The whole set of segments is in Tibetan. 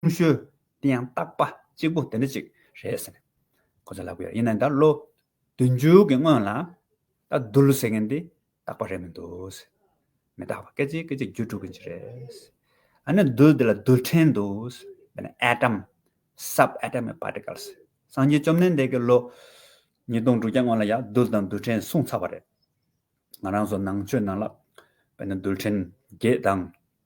ཀུན་ཤོལ། དེ་ཡང་བརྟག་པ་གཅིག་པོ་དེ་འདྲ་ཅིག་རེད་ཟེར། ཁོ་ཚོས་ལབ་ཀི་ཡོད་ཡིན་ནའི་ད་ལོ། བདུན་བཅུ་གི་སྔོན་ལ། ད་བསྡུར་ཟེར་མཁན་དེ་བརྟག་པ་རེད་མི་འདུག། མི་བརྟག་པ་སྐད་ཅིག་སྐད་ཅིག་བརྒྱུད་འགྲོ་གི་རེད། ཨ་ནི་བསྡུར་དེ་ལ་བསྡུར་ཕྲན་འདུག། དེ་ནི Atom། Sub Atomic Particles། སངས་རྒྱས་བཅོམ་ལྡན་འདས་ཀྱིས་ལོ། ཉིས་སྟོང་དྲུག་བརྒྱ་སྔོན་ལ་ཡང་བསྡུར་དང་བསྡུར་ཕྲན་གསུངས་ཚར་བ་རེད། ང་རང་ཚོ་ནང་ཆོས་ནང་ལ། བོད་ནི་བསྡུར་ཕྲན་བརྒྱད་དང།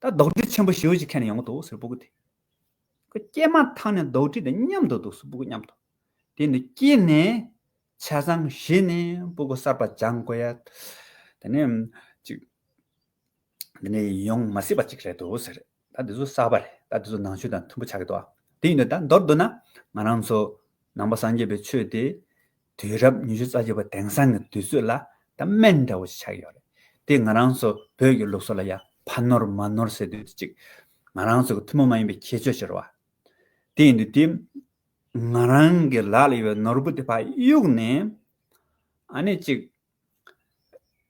ད་རྡོག་སྒྲིལ་ཆེན་པོ་ཞེ་བོ་ཞིག་ཁྱེར་ནས་ཡོང་གི་འདུག་ཟེར་བུ་གུ་དེ། ཁོས་སྐྱེས་མ་ཐག་ནས་རྡོག་སྒྲིལ་དང་མཉམ་དུ་འདུག་ཟེར་བུ་གུ་སྙམ་དུ། དེ་ནི་སྐྱེས་ནས། བྱས་ཙང་བཞེས་ནས་བུ་གུ་གསར་པ་སྦྱང་དགོས་ཡ། དེ་ནི། ཅིག། དེ་ནི་ཡོང་མ་སྲིད་པ་ཅིག་རེད་འདུག་ཟེར། ད་དེ་ཚོ་གསར་པ་རེད་ད་དེ་ཚོ་ནང་ཆོས་དང་མཐུན་པོ་ཆགས་ཀྱི་འདུག་ཨ། དེ་ཡིན་དུས་ད་མདོར་བསྡུ་ན། ང་རང་ཚོ། ནང་པ་སངས་རྒྱས་པའི་ཆོས་དེ། དུས་རབས་ཉི་ཤུ་རྩ་བཞི་པ་དེང་སང་གི་དུས་ཚོད་ལ་ད་སྨན་འདྲ་བོ་ཞིག་ཆགས་ཡོད་རེད་དེ་ང་རང་ཚོ་བོད་ཀྱི་ལུགས་སྲོལ་ལ་ཡང་ཕ་ནོར་མ་ནོར་ཟེར་དུས་དེ་ཅིག་ང་རང་ཚོ་གི་ཐུན་མོང་མ་ཡིན་པའི་ཁྱད་ཆོས་ཤིག་རེད་བ། དེ་ཡིན་དུས་དེ་ང་རང་གི་ལག་ལ་ཡོད་པའི་ནོར་བུ་དེ་ཕ་གཡུག་ནས་ཨ་ནི་ཅིག་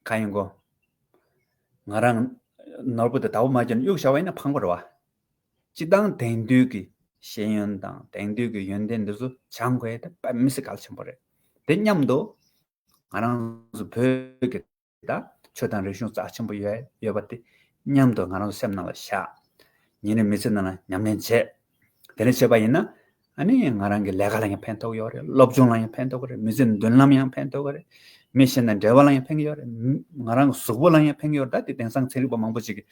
ག་ཡིན་གོ། ང་རང་ནོར་བུ་དེ་ད་བུ་མ་གྱོན་ན་གཡུག་བཞག་བ་ཡིན་ན་ཕངས་པོ་རེད་བ། སྤྱི་དང་དེང་དུས་ཀྱི་ཤེས་ཡོན་དང་དེང་དུས་ཀྱི་ཡོན་ཏན་འདི་ཚོ་བྱང་ཁོའི་དེ་དཔལ་མི་སྲིད་གལ་ཆེན་པོ་རེད་དེ་སྙམ་དུ། ང་རང་ཚོ་བོད་ཀྱི་ད་ཆོས་དང་རིག་གཞུང་རྩ་ཆེན་པོ་ཡོད་པ་དེ་སྙམ་དུ་ང་རང་ཚོ་སེམས་ནང་ལ་བཞག། ཉིན་རེ་མི་ཚེ་ནང་ལ་ཉམས་ལེན་བྱེད། དེ་འདྲ་བྱེད་པ་ཡིན་ན། ཨ་ནི་ང་རང་གི་ལས་ཀ་ལ་ཡང་ཕན་ཐོགས་ཡོད་རེད་སློབ་སྦྱོང་ལ་ཡང་ཕན་ཐོགས་ཀྱི་རེད་མི་ཚེའི་མདུན་ལམ་ཡང་ཕན་ཐོགས་ཀྱི་རེད། མི་གཞན་དང་འབྲེལ་བ་ལ་ཡང་ཕན་གྱི་ཡོད་རེད། ང་རང་གི་གཟུགས་པོ་ལ་ཡང་ཕན་གྱི་ཡོད་རེད་ད་དེ་དེང་སང་ཚན་རིག་པ་མང་པོ་ཞིག་གིས་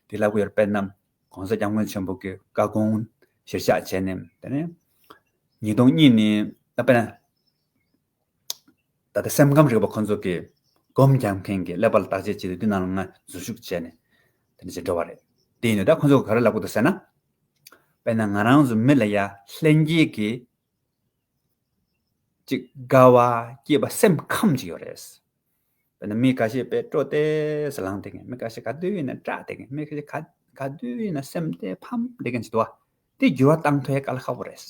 དེ་ལབ་ཀྱི་ཡོད་རེད་དཔེར་ན། གོང་ས་སྐྱབས་མགོན་ཆེན་པོ་གིས་བཀའ་དགོངས་གཞིར་བཞག་བྱས་ནས་དེ་ནས། ཉིས་སྟོང་གཉིས་ནི་དཔེར་ན། ད་ལྟ་སེམས་ཁམས་རིག་པ་ཁོ་ཚོ་གིས་སྒོམ་རྒྱག་མཁན་གྱི་ཀླད་པ་ལ་བརྟག་དཔྱད་བྱས་ཏེ་དུས་ནང་ལ་ང་འཛུལ་ཞུགས་བྱས་ནས་དེ་ནས་བྱེད་འགྲོ་བ་རེད། དེ་ཡིན་ན་ད་ཁོ་ཚོ་ག་རེ་ལབ་ཀྱི་འདུག་ཟེར་ན། དཔེར་ན་ང་རང་གཟུགས་མེད་ལ་ཡ་ལྷན་སྐྱེས་ཀྱི་ཅིག་དགའ་བ་སྐྱེས་པ་སེམས་ཁམས་ཅིག་ཡོད་རེད། དཔེར་ན་མི་ག་ཤེད་པས་སྤྲོ་སྟེ་ཟ་ལངས་བསྡད་མཁན་མི་ག་ཤེད་ག་དུས་ཡིན་ན་སྐྲག་བསྡད་མཁན་མི་ག་ཤེད་ག་དུས་ཡིན་ན་སེམས་གཏད་ཕམ་བསྡད་མཁན་ཅིག་དུ་དེ་བསྒྱུར་བ་བཏང་ཐོས་ག་ལ་ཁག་པོ་རེད།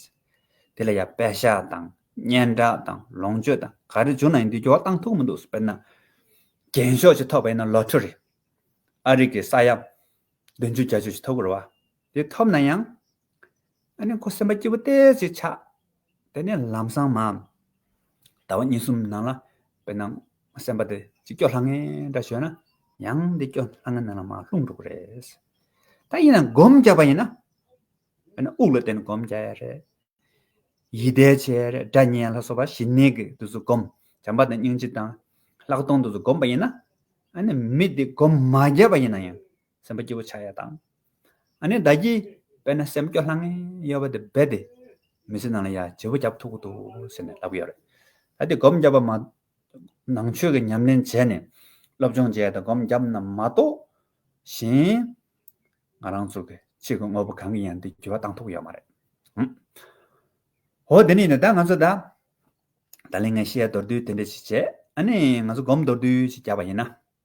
དེ་ལ་ཡ་དཔེ་ཞྭ་དང་སྙན་གྲགས་དང་ལོངས་སྤྱོད་དང་ག་རེ་བྱུང་ན་ཡིན་དེ་བསྒྱུར་བ་བཏང་ཐུག་མི་འདུག་དཔེར་ན་རྒྱན་ཤོག་ཅིག་ཐོགས་པ་ཡིན་ན་ལོ་ཐོ་རེད། ཨ་རིག་གི་ས་ཡ་བདུན་ཅུ་གྱ་བཅུ་ཞིག་ཐོབ་དགོས་ར་བ། དེ་ཐོབ་ན་ཡང། ཨ་ནི་ཁོ་སེམས་པ་སྐྱིད་པོ་སྟེ་ཅིག་ཆགས། དེ་ནས་ལམ་སང་མ། ཟླ་བ་གཉིས་གསུམ་ནང་ལ་དཔེར་ན་སེམས་པ་དེ་ཅིག་སྐྱོ་ལྷང་ངེ་འདྲ་བྱོས་ན། ཡང་འདི་སྐྱོ་ལྷང་ངེ་ནང་ལ་མ་ལྷུང་འགྲོ་གི་རེད། ད་ཡིན་ན་སྒོམ་རྒྱག་པ་ཡིན་ན། དཔེར་ན་དབུགས་ལ་བརྟེན་ནས་བསྒོམ་བྱ་ཡ་རེད། ཡིད་བདེ་བྱེད་ཡ་རེད་སྒྲ་སྙན་ལ་སོགས་པ་ཞི་གནས་ཀྱི་དུས་སུ་བསྒོམ། བྱམས་པ་དང་སྙིང་རྗེ་དང། ལྷག་མཐོང་དུས་སུ་བསྒོམ་པ་ཡིན་ན། ཨ་ནི་མི་དེ་སྒོམ་མ་རྒྱབ་པ་ཡིན་ན་ཡང་སེམས་པ་སྐྱིད་པོ་ཆགས་ཡ་དང། ཨ་ནི་བདག་གིས་དཔེར་ན་སེམས་སྐྱོ་ལྷང་ངེ་ཡོད་པ་དེ་རྦད་དེ་མི་ཚེ་ནང་ལ་ཡ་བྱེད་པོ་རྒྱབ་ཐུབ་ཀྱི་འདུག་ཟེར་ནས་ལབ་ཀྱི་ཡོད་རེད། ད་དེ་སྒོམ་བརྒྱབ་པ་མ་ནང་ཆོས་ཀྱི་ཉམས་ལེན་བྱས་ནས། སློབ་སྦྱོང་བྱས་དང་སྒོམ་བརྒྱབ་རྣམས་མ་གཏོགས། གཞན། ང་རང་ཚོ་གི་ཆེད་ཀྱི་དངོས་པོ་གང་གི་ཡང་འདི་འགྱུར་བ་བཏང་ཐུབ་ཀྱི་ཡོད་མ་རེད། འོ། དེ་ནས་ནི་ད་ང་ཚོ་ད། ད་ལིང་ངས་ཤེས་མདོར་བསྡུས་དེ་འདྲ་ཞིག་བྱས། ཨ་ནི་ང་ཚོ་སྒོམ་མདོར་བསྡུས་ཞིག་བརྒྱབ་པ་ཡིན་ན།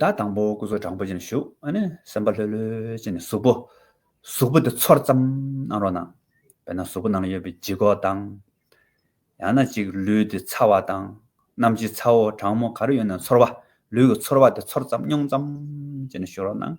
བདག་དང་པོ་སྐུ་གཟུགས་དྲང་པོ་ཅན་བཞུགས། སེམས་དཔའ་ལྷོད་ལྷོད་ཅན་གཟུགས་པོ། གཟུགས་པོ་དེ་ཚོར་ཙམ་གནང་རོགས་གནང། དཔེར་ན་གཟུགས་པོ་ནང་ཡོད་པའི་ལྗིད་ཁོག་དང། ཡང་ན་ཅིག་ལུས་དེ་ཚ་བ་དང། རྣམ་ལྕེ་ཚ་བོ་གྲང་མོ་ག་རེ་ཡོད་ན་ཚོར་བ། ལུས་ཀྱི་ཚོར་བ་དེ་ཚོར་ཙམ་མྱོང་ཙམ་ཅན་བཞུགས་རོགས་གནང།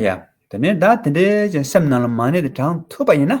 ཡ་དེ་ནས་བདག་དེ་འདྲའི་སེམས་རྣམས་ལ་མ་གནས་ཏེ་དྲང་ཐུབ་པ་ཡིན་ན་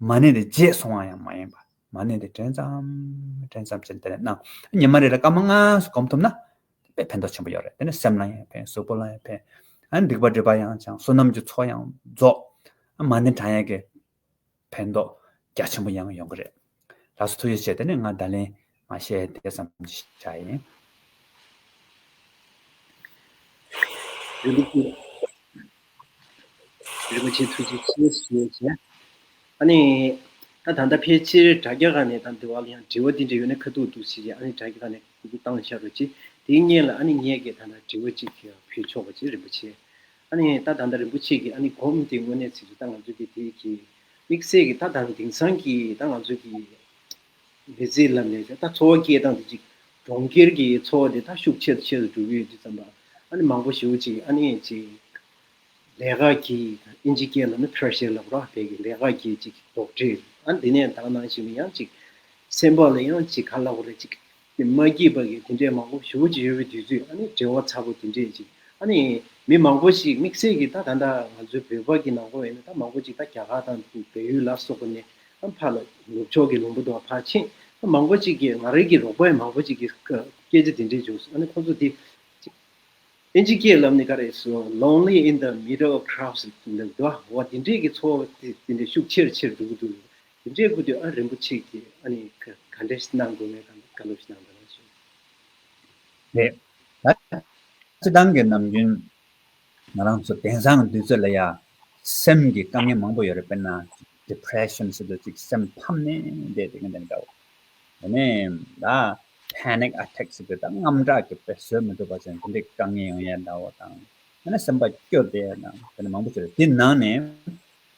མ་གནས་ཏེ་རྗེས་སོང་བ་ཡང་མ་ཡིན་པར་མ་གནས་ཏེ་དྲན་ཙམ་དྲན་ཙམ་བྱས་ནས་དེ་ལས་སྣང། ཉི་མ་རེ་ལ་སྐར་མ་ལྔ་སོགས་བསྒོམ་ཐུབ་ན། དཔེ་ཕན་ཐོགས་ཆེན་པོ་ཡོད་རེད་དེ་ནི་སེམས་ལ་ཡང་ཕན་གཟུགས་པོ་ལ་ཡང་ཕན། ཨ་སྡིག་པ་སྒྲིབ་པ་ཡང་བྱང་བསོད་ནམས་ཀྱི་ཚོགས་ཡང་རྫོགས། ཨ་མ་ནི་བགྲང་ཡས་ཀྱི་ཕན་ཐོགས་རྒྱ་ཆེན་པོ་ཡང་ཡོང་གི་རེད། ལགས་སོ་ཐུགས་རྗེ་ཆེ་དེ་ནི་ང་ད་ལན་མ་བཤད་དེ་ཙམ་གྱིས་བྱ་ཡིན། རིན་པོ་ཆེ། རིན་པོ་ཆེ་ཐུགས་རྗེ་ཆེ་ཞེས་བྱས། ཨ་ནི། ད་ད་ལྟ་ཕལ་ཆེར་དྲ་རྒྱ་ཁག་ནས་ད་འདི་བ་ལ་ཡང་དྲི་བ་འདི་འདྲ་ཡོད་ན་ཁ་ཐུག་འདུག་ཞེས་བྱས་ཨ་ནི་དྲ་རྒྱ་ཁག་ནས་ཁུ་ཁུ་བཏང་ཤག་རོ་ཅིག་དེ་བརྙན་ལ་ཨ་ནི་ངས་ཀྱི་ད་ད་དྲི་བ་ཅིག་ཕུལ་ཆོག་པ་ཅིག་རིན་པོ་ཆེ། ཨ་ནི་ད་ད་ད་རིན་པོ་ཆེ་གིས་ཨ་ནི་སྒོམ་དེ་དངོས་གནས་ཚིག་རེད་ད་ང་ཚོ་གི་དེ་གིས་དམིགས་བསལ་གྱི་ད་ད་དེང་སང་གི་ད་ང་ཚོ་གི། འདི་རྩིས་ལ་མེད་ཀྱང་ད་འཚོ་བ་སྐྱེལ་སྟངས་དེ་གཅིག་གྲོང་ཁྱེར་གྱི་འཚོ་བ་དེ་ད་ཤུགས་ཆེ་རུ་ཆེ་རུ་འགྲོ་གི་ཡོད་དུས་རྩམ་པ་ཨ་ནི་མང་པོ་ཞིག་འུ་ཅིག་ཨ་ནི་ཨེ་ཅིག་ལས་ཀ་གྱིས་དང་ཨིན་ཇི་ཀྱེ་ལ་ནི་ཕེར་ཤེར་ལ་བོ་རག་བལ་གྱི་ལས་ཀ་གྱིས་ཅིག་རྡོག་བྲིས་ཨ་ནི་དེ་ནས་དག་ནང་ཞིག་ནས་ཡང་ཅིག་སེམས་པ་ལ་ཡང་ཅིག་ག་ལ་བོ་རེ་ཅིག་ནི་མ་སྐྱིད་པ་གིས་དེ་འདྲས་མང་པོ་ཞུ་ཀྱི་ཡོད་པའི་དུས་ཚོད་ནི་བྲེལ་བ་ཚ་པོ་དེ་འདྲས་ཅིག་ནི་མི་མང་པོ་ཞིག་དམིགས་བསལ་གྱིས་ད་ད་ལྟ་ང་ཚོའི་བོད་པ་གི་ནང་པོ་བས་ནི་ད་མང་པོ་ཅིག་ད་རྒྱ་གར་དང་བལ་ཡུལ་ལ་སོགས་པ་ནས་ཕར་ལ་ནུབ་ཕྱོགས་ཀྱི་ལུང་པ་དང་ཕར་ཕྱིན་ད་མང་པོ་ཅིག་གིས་ང་རང་གི་རོགས་པ་མང་པོ་ཅིག་གིས་སྐད་ཆ་དེ་འདྲས་བྱུང་སོང་ནི་ཁོ་ཚོ་དེ་ཨིན་ཇི་སྐད་ལབ་ནི་ག་རེ་སོ Lonely in the middle of crowds འདུག་འདུག་བ་དེ་འདྲས་ཀྱི་ཚོར་བ་དེ་འདྲས་ཤུགས་ཆེར་ཆེར་འདུག་འདུག་དེ་འདྲའི་སྐུ་དེ་ཨ་རིན་པོ་ཆེ་གིས་ཨ་ནི་ག་འདྲས་གནང་དགོས་མེད་ག་འདྲས་གནང་དགོས་མེད་ལ་སོགས། རེད་ད། སྤྱི་བཏང་གི་ནམ་རྒྱུན་ང་རང་ཚོ་དེང་སང་དུས་ཚོད་ལ་ཡ། སེམས་ཀྱི་དཀའ་ངལ་མང་པོ་ཡོད་རེད་དཔེར་ན། Depression ཞེས་པ་ཅིག་སེམས་ཕམ་ནས་བསྡད་དེ་ག་འདྲ་འདྲ་བོ། དེ་ནས་ད། Panic Attack ཞེས་པའི་ད་རྔམ་སྐྲག་གི་དཔེར་བཟོད་མི་ཐུབ་པ་ཅན་དེ་འདྲའི་དཀའ་ངལ་ཡང་ཡལ་འདྲ་བོ་དང། དེ་ནས་སེམས་པ་སྐྱོ་བསྡད་དང་དེ་འདྲ་མང་པོ་བྱུང་རེད་དེའི་ནང་ནས།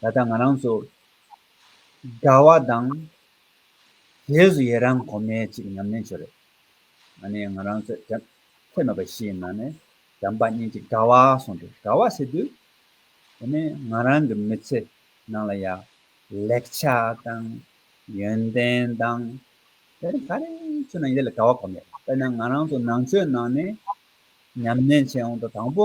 ད་ལྟ་ང་རང་ཚོ་འདྲ་བ་དང། རྗེས་སུ་ཡི་རང་གོ་མེད་ཅིག་ཉམས་ལེན་ཞོར་རེད། ང་ནི་ང་རང་ཚོའི་དྲན་ཐོས་མེད་པ་ཞིག་ཡིན་ན་ནི་དྲན་པ་གཉིས་ཀྱི་དྲ་བ་སོང་སྟེ་དྲ་བ་ཟེར་དུས། དེ་ནི་ང་རང་གི་མི་ཚེ་ནང་ལ་ཡང་ལེགས་ཆ་དང། ཡོན་ཏན་དང། དེ་རིང་ག་རེ་ཚོས་ན་ཡིད་ལ་དྲ་བ་གོ་མེད། དཔེར་ན་ང་རང་ཚོ་ནང་ཆོས་ནང་ནས་ཉམས་ལེན་བྱས་འོང་དུས་དང་པོ་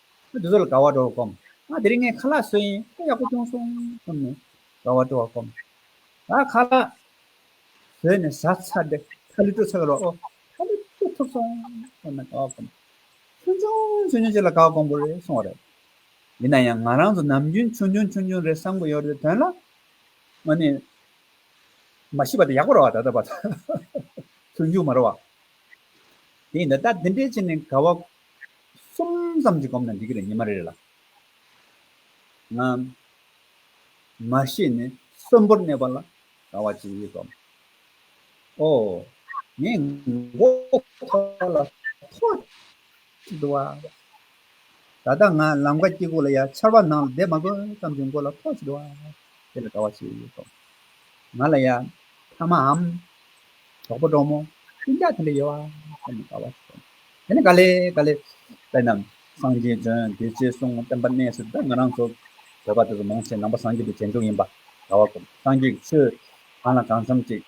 ཁོས་དེ་ཚོ་ལ་དགའ་བ་སྤྲོ་བར་བསྒོམ། ཨ། དེ་རིང་ངས་ཁ་ལག་བཟོས་ཡིན་ཁོ་ཡག་པོ་སྐྱོང་སོང་བསམ་ནས་དགའ་བ་སྤྲོ་བར་བསྒོམ། ད་ཁ་ལག་བཟོས་ནས་བཟའ་ཚར་ཏེ་ཁ་ལུད་སྤྲོད་ཚར་བའི་རོ་ཨོ། ཁ་ལུད་སྤྲོད་ཐུབ་སོང་བསམ་ནས་དགའ་བ་བསྒོམ། ཆུང་ཆུང་ཆུང་ཆུང་ཅིག་ལ་དགའ་བ་བསྒོམ་དགོས་རེད་གསུང་བ་རེད། ཡིན་ན་ཡང་ང་རང་ཚོ་ནམ་རྒྱུན་ཆུང་ཆུང་ཆུང་ཆུང་རེད་བསམ་གི་ཡོད་རེད་དོན་ལ། ཨོ་ནི། མ་ཤི་བ་དེ་ཡག་པོ་རེད་བ་ད་ལྟ་བར་དུ་འཇུག་མ་རེད་བ། དེ་ཡིན་ད་ལྟ་འདི་འདྲའི་ཆེད་ནས་དགའ་བ་གསུམ་ཙམ་གྱིས་གོམས་ན་འགྲིག་གི་རེད་ཉི་མ་རེ་རེ་ལ། ང། མ་ཤེས་ནས་གསོན་པོར་གནས་པ་ལ་དགའ་བ་ཅི་ཡོད་དམ། ཨོ། ངས་མགོ་ཐོག་ལ་ཐོག་ཅིག་འདུག་བ། ད་ལྟ་ང་ལམ་ཁ་སྐྱིད་པོ་ལ་ཡ་ཆར་བ་ནང་ལ་བསྡད་མ་དགོས་ཙམ་གྱི་མགོ་ལ་ཐོག་ཅིག་འདུག་བ། དེ་ལ་དགའ་བ་ཅི་ཡོད་དམ། ང་ལ་ཡ་ཕ་མའམ་གྲོགས་པོ་འབྲོག་མོ། ཤུན་ལྕགས་དེ་འདྲ་ཡོད་བ། ཟེར་ནས་དགའ་བ་ཞིག་བྱུང། དེ་ནས་ག་ལེ་ག་ལེ། དཔེར་ན། སངས་རྒྱས་དོན་བདེ་ཆེ་གསུང་བསྟན་པ་གནས་སུ་ད་ང་རང་ཚོ། བོད་པ་དེ་ཚོ་མང་ཆེ་ནང་པ་སངས་རྒྱས་དེ་རྗེས་འཇུག་ཡིན་པ་ག་བ་སྒོམ་སངས་རྒྱས་ཀྱི་ཆོས་གང་ལ་གང་འཚམ་ཅིག་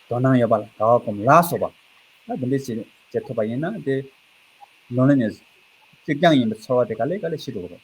དོ་སྣང་ཡོད་པ་ལ་ག་བ་སྒོམ་ལགས་སོ། བ་ད་འདི་འདྲའི་བྱེད་བྱེད་ཐུབ་པ་ཡིན་ན་དེ། Loneliness། གཅིག་རྐྱང་ཡིན་པའི་ཚོར་བ་དེ་ག་ལེ་ག་ལེ་ཞི་འགྲོ་གི་རེད།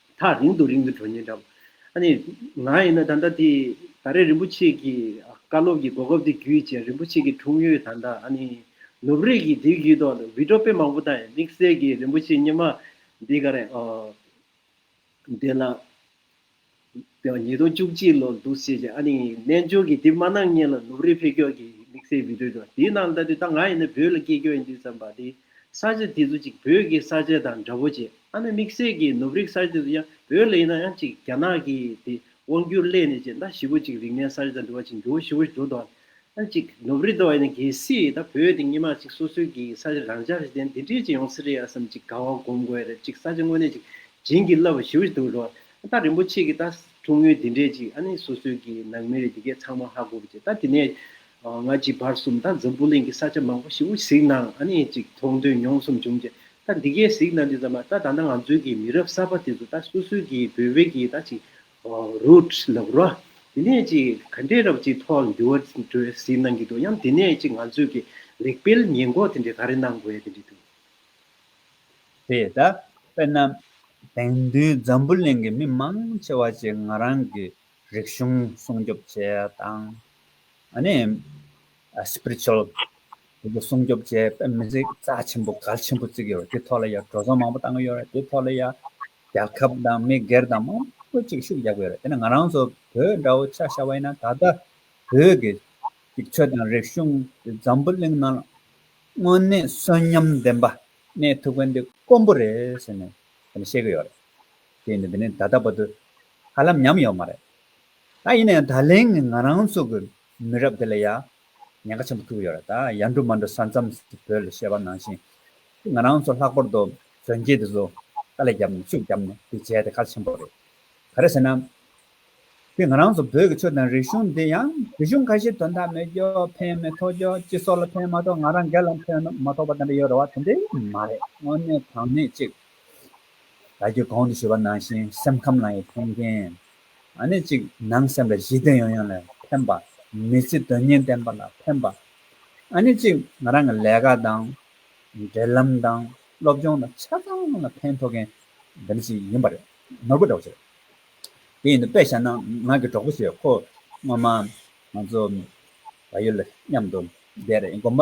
ཐག་རིང་དུ་རིང་དུ་འགྲོ་ཉེན་འདྲ། ཨ་ནི། ང་ཡིན་ན་ད་ལྟ་དེ་ད་རེས་རིན་པོ་ཆེ་གི་བཀའ་སློབ་ཀྱི་གོ་སྐབས་དེ་བརྒྱུད་ཅེས་རིན་པོ་ཆེ་གི་འཁྲུངས་ཡུལ་ད་ལྟ་ཨ་ནི། ནུབ་རིགས་ཀྱི་དེ་བརྒྱུད་དོ་བི་ཏྲོ་དཔེ་མང་པོ་དང་དམིགས་བསལ་གྱི་རིན་པོ་ཆེ་སྙེ་མ་འདི་ག་རེད། དེ་ལ། ཉིས་སྟོང་བཅུ་གཅིག་ལོར་འདུག་ཤེས་ཀྱི་ཨ་ནི། རྣལ་འབྱོར་གྱི་དེ་མ་ནང་ཉིད་ལ་ནུབ་རིགས་འཕེལ་འཁྱོག་གི་དམིགས་བསལ་བི་ཏྲོ་དེ་ནང་ད་དུས་ད་ང་ཡིན་ན་བོད་ལ་སྐྱེས་འཁྱོག་ཡིན་དུས་བསམ་པ་དེ། ས་བཅད་དེ་ཚོ་ཅིག་བོད་ཀྱི་ས་བཅད་དང་འདྲ་བོ་བྱེད་ཨ་ནི་དམིགས་བསལ་གྱིས་ནུབ་རིགས་ས་བཅད་དུ་ཡང་བོད་ལས་ཡིན་ན་ཡང་ཅིག་རྒྱ་ནག་གིས་དེ་དབང་བསྒྱུར་སླད་ནས་ཅིག་ཟླ་བཞི་བོ་ཅིག་རིག་གནས་ས་བཅད་དང་འབྲེལ་བ་ཅིག་འགྱུར་བ་བཞི་བོ་བྱུང་དང་ཡང་ཅིག་ནུབ་རིགས་དང་ཡང་ན་གལ་སྲིད་ད་བོད་དེ་སྙེ་མ་ཅིག་སོ་སོའི་གི་ས་བཅད་རང་ཅག་རིགས་ལྡན་དེ་འདྲས་ཅིག་ཡོང་སྲིད་རེད་ཨ་བསམ་ཅིག་དགའ་བ་སྒོམ་དགོས་རེད་ཅིག་ས་བཅད་དངོས་གནས་ཅིག་བྱིན་གྱིས་བརླབས་པ་བཞི་བོ་ཅིག་འདུག་རོགས་ད་རིན་པོ་ཆེ་གིས་ད་ཐུགས་ངུས་དེ་འདྲས་ཅིག་ཨ་ནི་སོ་སོའི་གི་ནང་མི་རིགས་དེ་གས་ཚང་མ་ཧ་གོ་བོ་ཅིག་ད་དེ་ནས་ང་གཅིག་བར་གསུམ་ད་འཛམ་བུ་གླིང་གི་ས་ཆ་མང་པོ་ཞིག་གཟིགས་གནང་ཨ་ནི་ཅིག་མཐོང་ཐོས་མྱོང་གསུམ་བྱུང་རྗེས་ད་འདི་གའི་གཟིགས་གནང་འདི་ཙམ་ལ་ད་ད་ནང་ང་ཚོའི་གི་མི་རབས་གསར་པ་དེ་ཚོ་ད་སུ་སུ་གི་བོད་བོད་ཀྱི་ད་ཅིག་རུད་ལབ་རོ་དེ་ནས་ཅིག་ག་འདྲའི་རབ་ཅིག་ཐོག་ལ་འདི་བར་འགྲོའི་གཟིགས་གནང་གི་འདུག་ཡང་དེ་ནས་ཅིག་ང་ཚོའི་གི་ལེགས་སྤེལ་ཉེས་འགོག་དེ་འདྲའི་ག་རེ་གནང་དགོས་དེ་འདྲའི་འདུག། དེ་ད་དཔེར་ན་དེང་དུས་འཛམ་བུ་གླིང་གི་མི་མང་ཆེ་བ་ཅིག་ང་རང་གི་རིག་གཞུང་སྲུང་སྐྱོབ་བཅས་དང། Spiritual། སྲུང་སྐྱོབ་བཅས་དཔེ་མི་གཟིགས་རྩ་ཆེན་པོ་གལ་ཆེན་པོ་བརྩིགས་ཡོད་དེ་ཐོག་ལ་ཡང་གྲོས་ཚོགས་མང་པོ་བཏང་གི་ཡོད་རེད་དེ་ཐོག་ལ་ཡང་རྒྱལ་ཁབ་དང་མི་སྒེར་དང་མང་པོ་གཅིག་ཤུགས་རྒྱག་གི་ཡོད་རེད་དེ་ནི་ང་རང་ཚོ་བོད་འདྲ་བོ་ཆགས་བཞག་པ་ཡིན་ན་ད་ལྟ་བོད་ཀྱི་གཅིག་ཆོད་དང་རིག་གཞུང་གི་འཛམ་བུ་གླིང་ནང་དངོས་གནས་གསོན་ཉམས་ལྡན་པ་གནས་ཐུབ་མཁན་དེ་དཀོན་པོ་རེད་ཟེར་ནས་བཤད་གི་ཡོད་རེད་དེ་ཡིན་དུ་འདི་ནི་ད་ལྟ་བར་དུ་ཧ་ལམ་ཉམས་ཡོད་མ་རེད། ད་ཡིན་ནའང་ད་ལན་ནི་ང་རང་ཚོ་གི་མི་རབས་འདི་ལ་ཡང་ཉེན་ཁ་ཆེན་པོ་ཐུག་ཡོད་རེད་ད། ཡར་འགྲོ་མར་འགྲོ་ས་མཚམས་སུ་བོད་ལ་བཤད་པ་ནང་བཞིན་དེ་ང་རང་ཚོ་ལྷག་པར་དུ་གཞོན་སྐྱེས་དེ་ཚོ་དཀའ་ལས་བརྒྱབ་ནས་ཤུགས་བརྒྱབ་ནས་དེ་བྱས་དེ་ཁག་ཆེན་པོ་རེད། ག་རེ་ཟེར་ན། དེ་ང་རང་ཚོ་བོད་ཀྱི་ཆོས་དང་རིག་གཞུང་དེ་ཡང་རིག་གཞུང་ཁ་ཤས་དོན་དག་མེད་རྒྱོ་ཕན་མེད་ཐོག་རྒྱོ་སྤྱི་ཚོགས་ལ་ཕན་མ་ཐོག་ང་རང་སྒེར་ལ་ཕན་མ་ཐོག་པ་དེ་འདྲ་ཡོད་རེད་བ་དེ་འདྲ་མ་རེད་དངོས་གནས་དྲང་གནས་གཅིག་བདག་གིས་གོང་དུ་ཞུས་པ་ནང་བཞིན་སེམས་ཁམས་ལ་ཡང་མཐོང་རྐྱེན་ཨ་ནི་གཅིག་ནང་སེམས་ལ་བཞི་སྟེ་ཡང་ཡང་ལ་ཕན་པ། མི་ཚེ་དོན་གཉེར་ལྡན་པ་ལ་ཕན་པ། ཨ་ནི་གཅིག་ང་རང་གི་ལས་ཀ་དང། འབྲེལ་ལམ་དང་སློབ་སྦྱོང་དང་ཆ་ཚང་ལ་ཕན་ཐོགས་མཁན་འདི་འདྲ་ཞིག་ཡིན་པ་རེད། ནོར་བུ་གྲོགས་ཟེར། དེ་ཡིན་དུ་དཔེ་བཞག་ན་ང་གི་གྲོགས་པོ་ཞིག་ཁོ་སྔོན་མ་ང་ཚོ་བལ་ཡུལ་ལ་མཉམ་དུ་བསྡད་རེད་དགོན་པ་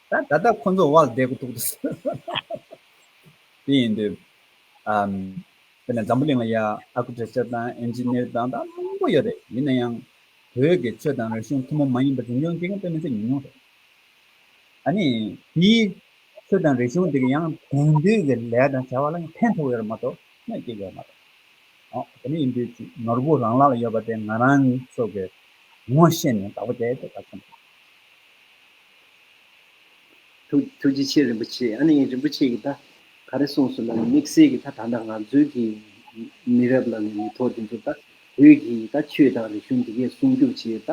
ད་ད་ལྟ་ཁོ་ཚོ་བལ་བསྡད་གི་འདུག་དེ་ཡིན་དུས། དེ་ནས་འཛམ་བུ་གླིང་ལ་ཡ Architecture དང Engineer དང་དང་མང་པོ་ཡོད་རེད་ཡིན་ན་ཡང། བོད་ཀྱི་ཆོས་དང་རིག་གཞུང་ཐུན་མོང་མ་ཡིན་པ་འཛིན་སྐྱོང་བྱེད་མཁན་དཔེ་མི་ཚད་ཉུང་ཉུང་རེད། ད་ནི་དེའི་ཆོས་དང་རིག་གཞུང་དེ་གི་ཡང་དེང་དུས་ཀྱི་ལས་དང་བྱ་བ་ལ་ཡང་ཕན་ཐོགས་ཡོད་རེད་མ་གཏོགས་གནོད་བསྐྱལ་ཡོད་རེད་མ་གཏོགས། དེ་ནས་ཡིན་དུས་ནོར་བུ་རང་ལག་ལ་ཡོད་པ་དེ་ང་རང་ཚོ་གི་ངོ་ཤེས་ནས་བདག་པོ་བྱས་ཏེ་ད་ཐོན་ཐུབ། ཐུགས་རྗེ་ཆེ་རིན་པོ་ཆེ་ཨ་ནི་རིན་པོ་ཆེ་གི་ད་ག་རེ་གསུངས་སོང་ན་ནི་དམིགས་བསལ་གི་ད་ད་ནང་ང་ཚོའི་གི་མི་རབས་ལ་ནི་མི་ཐོག་དེ་ཚོ་ད་བོད་གི་ད་ཆོས་དང་རིག་གཞུང་དེ་གས་སྲུང་སྐྱོབ་བྱེད་ད་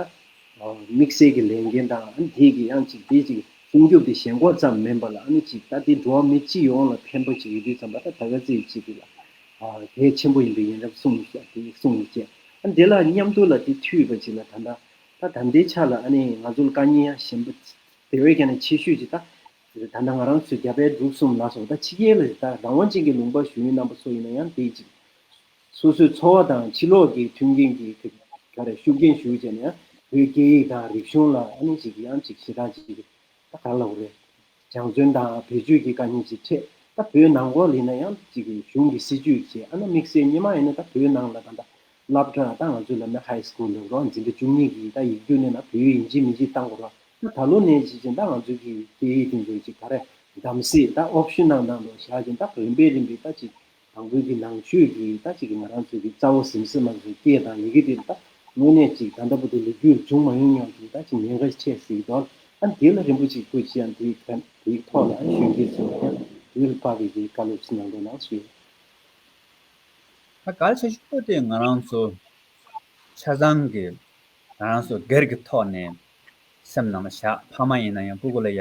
དམིགས་བསལ་གི་ལས་འགན་དང་ཨ་ནི་དེ་གི་ཡང་ཅིག་དེ་ཅིག་སྲུང་སྐྱོབ་དེ་ཞེན་ཁོག་ཙམ་མིན་པ་ལ་ཨ་ནི་ཅིག་ད་དེ་འགྲོ་བ་མི་སྤྱི་ཡོངས་ལ་ཕན་པོ་ཅིག་ཡོད་དུས་ཙམ་པ་ད་ད་ག་ཚིག་ཅིག་གི་ལ་གས་ཆེན་པོ་ཡིན་པའི་ཡིན་རབས་གསུངས་མི་ཤེས་ཨ་ནི་དེ་གསུངས་མི་ཤེས་ཨ་ནི་དེ་ལ་མཉམ་དུ་ལ་དེ་འཐུས་པ་ཅིག་ལ་ད་ད་ད་ད་ལྟའི་ཆ་ལ་ཨ་ནི་ང་ཚོ་ལ་དཀའ་ཉེན་ཡང་ཞན་པོ་དེ་བས་ཀྱང་ནས་ཆེ་ཤོས་ཅིག་ད། ད་ནང་ང་རང་ཚོའི་རྒྱ་བལ་འབྲུག་གསུམ་ལ་སོགས་ད་ཕྱི་རྒྱལ་ལ་ད་རང་དབང་ཅན་གྱི་ལུང་པ་ཞུ་ཡུལ་རྣམ་པ་ཚོ་ཡིན་ན་ཡང་དེའི་ཅིག། སོ་སོའི་འཚོ་བ་དང་ཕྱི་ལོགས་ཀྱི་མཐུན་རྐྱེན་གྱི་ཐད་ཀ་རེ་ཤུགས་རྐྱེན་ཞུ་བྱས་ན་ཡང་བོད་སྐད་ཡིག་དང་རིག་གཞུང་ལ་ཨ་ནི་ཅིག་ཡང་ཅིག་ཞེ་དྲག་ཅིག་ད་ག་ལ་འོ་རེད། སྦྱང་བརྩོན་དང་བེད་སྤྱོད་ཀྱི་དཀའ་ཉེན་ཅིག་འཕྲད་ད་བོད་ནང་ལོག་ལེ་ན་ཡང་གཅིག་གི་གཞུང་གི་སྲིད་ཇུས་ཀྱི་ཨ་ན་དམིགས་བསལ་ཉི་མ་ཡེ་ནས་ད་བོད་ནང་ལ་ད་ད་ལབ་སྒྲ་ད་ང་ཚོའི་ལབ་ནས high school ལབ་རོགས་འཛིན་གྲྭ་བཅུ་གཉིས་ཀྱི་ད་ཡིག་རྒྱུགས་ནས་ན་བོད་ཡིག་འཇིག་མི་འཇིག་ད་འགོར་བ་ད་ད་ལོ་ནས་བྱེད་ཅིང་ད་ང་ཚོའི་གི་སྐད་ཡིག་དེ་ཚོ་ཅིག་ད་རེ་གདམ་སྲིད་ད optional ནང་དུ་བཞག་ཅིང་ད་རིམ་པས་རིམ་པས་ད་ཅིག་དང་པོའི་གི་ནང་ཆོས་ཀྱི་ད་གཅིག་གི་ང་རང་ཚོའི་གི་རྩ་བོ་ཟིམ་ཟིམ་མ་ཟིག་སྐད་དང་ཡི་གེ་དེ་ད་དངོས་གནས་གཅིག་ད་འདྲ་པོ་དེ་ལས་རྒྱུད་འབྱུང་མ་ཡོང་སྙམ་དུ་ད་གཅིག་ཉེན་ཁ་ཆེ་ཟིག་དོན་ཨ་དེ་ལ་རིན་པོ་ཆེ་སྐུ་ཅི་ཡང་དེའི་ཁ་དེའི་ཐོག་ལ་གཞོན་སྐྱེས་ཚོ་ལ་ཡང་དེའི་ལ་དཔག་གི་གི་བཀའ་སློབ་ཅི་གནང་འདོད་གནང་སུ་ཡོད། ད་གལ་ཆེ་ཤོས་དེ་ང་རང་ཚོ་ཆ་ཚང་གི་ང་རང་ཚོ་སྒེར་གི་ཐོག་ནས་སེམས་ནང་ལ་བཞག་ཕ་མ་ཡིན་ན་ཡང་སྤུ་གུ་ལ་ཡ།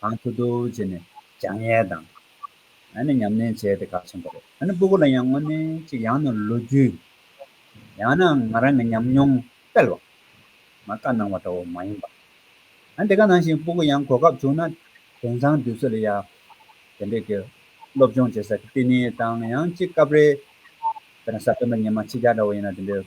གང་ཐུབ་ཐུབ་བྱས་ནས་སྦྱངས་ཡས་དང། ཨ་ནི་ཉམས་ལེན་བྱས་ཏེ་ག་ཆེན་པོ་རེད་ཨ་ནི་སྤུ་གུ་ལ་ཡང་དངོས་གནས་ཅིག་ཡང་ན་ལོ་རྒྱུས། ཡང་ན་ང་རང་གི་ཉམས་མྱོང་དཔེར་བ། མ་བཀའ་གནང་བ་འདྲ་བོ་མ་ཡིན་པ། ཨ་ནི་དེ་ག་ནང་བཞིན་སྤུ་གུ་ཡང་གོ་སྐབས་བྱུང་ན་དེང་སང་དུས་ཚོད་ལ་ཡ། དེ་འདྲས་ཀྱི་སློབ་སྦྱོང་བྱེད་ས་ཀི་ཏི་ནི་དང་ཡང་ཅིག་སྐབས་རེ། དཔེར་ན་ས་སྟོན་པ་ཉི་མ་ཕྱི་རྒྱ་འདྲ་བོ་ཡིན་ན་དེ་འདྲས་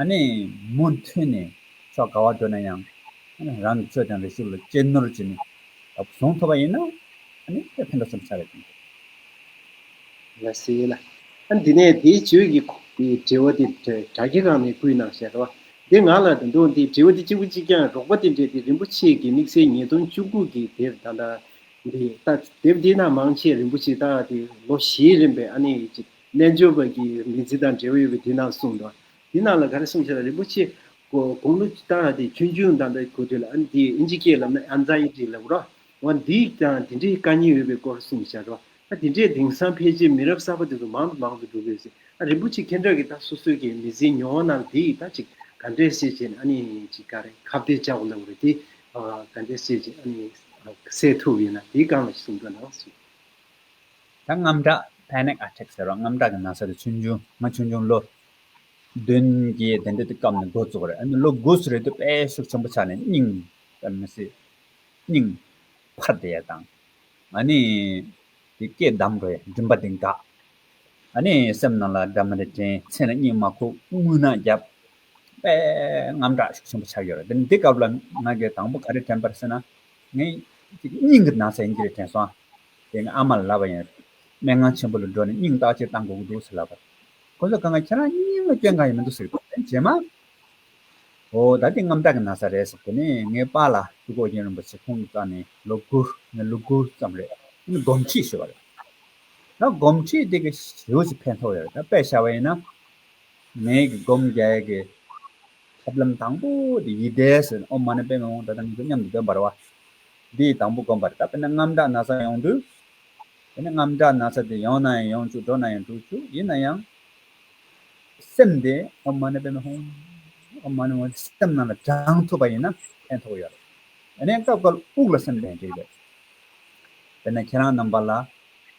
ཨ་ནེ་མུ་མཐུད་ནས་ཕྱོགས་ག་བར་བགྲོད་ན་ཡང། རང་གི་ཆོས་དང་རིག་གཞུང་ལ་གཅེས་ནོར་གྱིས་ནས་བཟུང་ཐུབ་པ་ཡིན་ན། ཨ་ནེ་དེ་ཕན་ཐོགས་ཆེན་པོ་ཆགས་པའི་རྐྱེན་རེད། ལ་ཟེར་ལ། འདི་ནས་དེའི་བརྗོད་ཀྱི་དྲི་བ་དེ་དྲ་རྒྱ་གང་ནས་བསྐུལ་གནང་ཞེས་དྲི་བ་འདི་ང་ལ་དུ་འདུག་འདིའི་དྲི་བ་དེ་གཅིག་པུ་གཅིག་རྐྱང་རོགས་པ་དེ་འདྲས་དེ་རིན་པོ་ཆེ་གི་དམིགས་བསལ་ཉིས་སྟོང་བཅུ་དགུ་གི་དེབ་དང་དང་དེ་ལྟ་དེབ་འདི་ན་མང་ཆེ་རིན་པོ་ཆེ་ལྟ་དེ་ལོ་བཞིའི་རིམ་པའི་ཨ་ནེ་ཡི་རྣལ་འབྱོར་པ་གྱི་ངེས་ཚིག་དང་འབྲེལ་བ་ཡོད་པས་དེ་རྣམས་གསུངས་པ། དེ་རྣམས་ལ་ག་རེ་གསུངས་ཤེ་ན་རིན་པོ་ཆེ། དགུང་ལོ་བཅུ་དང་ལྷག་སྟེ་ཆུང་ཆུང་དང་འདྲ་གོ་ཐོས་ལ་ཨ་ནི་དེ་ཨིན་ཇི་སྐད་ལབ་ན་ཨ་མཛའ་ཡིག་ཅིག་ལབ་རོགས། འོན་འདི་ཡིག་ཀྱང་དེ་འདྲའི་དཀའ་སྙིང་ཡོད་པའི་སྐོར་གསུངས་ཤར་རོ། ཨ་དེ་འདྲའི་དེང་སང་ཕལ་ཆེར་མི་རབས་གསར་པ་དེ་ཚོ་མང་དུ་མང་དུ་འགྲོ་གི་ཡོད་སྲིད་ཨ་རིན་པོ་ཆེ་ཁྱེད་འདྲ་གི་ད་སོ་སོའི་གི་མི་ཟིན་མྱོང་བ་རྣམས་དེ་ཡིག་ད་ཅིག་ག་འདྲས་བཤད་བྱས་ནས་ཨ་ནི་ཅིག་ག་རེ་ཁ་བརྡའི་བཅའ་བ་ལབ་རོགས་དེ་ཨ་ག་འདྲས་བཤད་བྱས་ཨ་ནི་གསལ་ཐུབ་ཡོད་ན་དེ་གང་ལ་གསུངས་པ་ན་གསུངས། ད་རྔམ་དྲག Panic Attack ཟེར་བ་རྔམ་དྲག་གི་ན་ཚ་དེ་ཆུང་ཆུང་ང་ཆུང་ཆུང་ལོ་བདུན་གྱི་དེ་འདྲ་དེ་སྐབས་ནས་འགོ་བཙུགས་རེད་ཨ་ནི་ལོ་དགུ་སུ་རེད་དུས་དཔལ་ཤུགས་ཆེན་པོ་ཆགས་ནས་སྙིང་ལྟར་མི་སྲིད་སྙིང་འཕར་བསྡད་ཡས་དང་ཨ་ནི་དེ་སྐད་གདམ་དགོས་ཡས་མགྲིན་པ་དེ་འགག་ཨ་ནི་སེམས་ནང་ལ་སྒྲ་མི་རེ་དྲན་མཚན་ལ་སྙིང་མ་ཁུག་རྔུལ་ནག་རྒྱབ་དཔལ་རྔམ་དྲག་ཤུགས་ཆེན་པོ་ཆགས་ཡོད་རེད་དེ་ནི་དེ་སྐབས་ལ་ང་གི་དང་པོ་ག་རེ་དྲན་པ་རེད་ཟེར་ན་ངའི་སྙིང་གི་ན་ཚ་ཡིན་གྱི་རེད་དྲན་སོང་ཨ། དེ་ནས་ཨ་མར་ལབ་པ་ཡིན། སྨྲེ་སྔགས་ཆེན་པོ་ལ་འགྲོ་ནས་སྙིང་ལྟག་ཅེར་བཏང་དགོས་ཀྱི་འདུག་ཟེར་ལབ་པར། ཁོ་ཚོས་དགའ་ང་ཁྱེད་རང་སྙིང་ལ་སྐྱོན་གང་ཡང་མི་འདུག་ཟེར་གི་འདུག་རྗེས་མ། ཨོ་ད་འདི་རྔམ་སྟག་གི་ན་བཟའ་རེད་ཟེར་དེ་ནས་ངའི་པ་ལ་ཀྲུའུ་ཀོ་རྒྱན་རིན་པོ་ཆེ་ཁོང་གི་རྩ་ནས་ལོ་དགུར་ངའི་ལུས་སྒུར་ཙམ་རེད། དེ་ནས་སྒོམ་ཁྲིད་ཞུ་བ་རེད། ད་སྒོམ་ཁྲིད་དེ་གི་ཞེའུ་ཅིག་ཕན་ཐོགས་ཡོད་རེད་ད་དཔེ་བྱ་བ་ཡིན་ན། ངའི་གི་སྒོམ་རྒྱལ་གི། ཐབས་ལམ་དང་པོ་དེ་ཡིད་བཟླས་ཟེར། ཨོ་མ་ནི་པའི་ངག་དབང་ད་ལྟ་ངེས་པའི་མཉམ་དུ་འདོན་པར་བ། འདིས་དང་པོ་བསྒོམ་པར་བཏབ་པས་ན་རྔམ་སྒྲ་ན་ཚ་ཡོངས་འདུས། དེ་ནས་རྔམ་སྒྲ་ན་ཚ་དེ་ཡོང་ན་ཡང་ཡོང་བཅུག་འགྲོ་ན་ཡང་འགྲོ་བཅུག་ཡིན་ན་ཡང། སེམས་དེ་ཨོ་མ་ནི་པའི་ངག་ཨོ་མ་ནི་ངག་སེམས་རྣམས་ལ་དྲངས་ཐུབ་པ་ཡིན་ན་ཕན་ཐོགས་ཡོད། དེ་ནས་སྐབས་འགར་དབུགས་ལ་སེམས་ལྡན་རྒྱུ་ཡོད། དེ་ནས་ཁྱེད་རང་རྣམས་པ་ལ།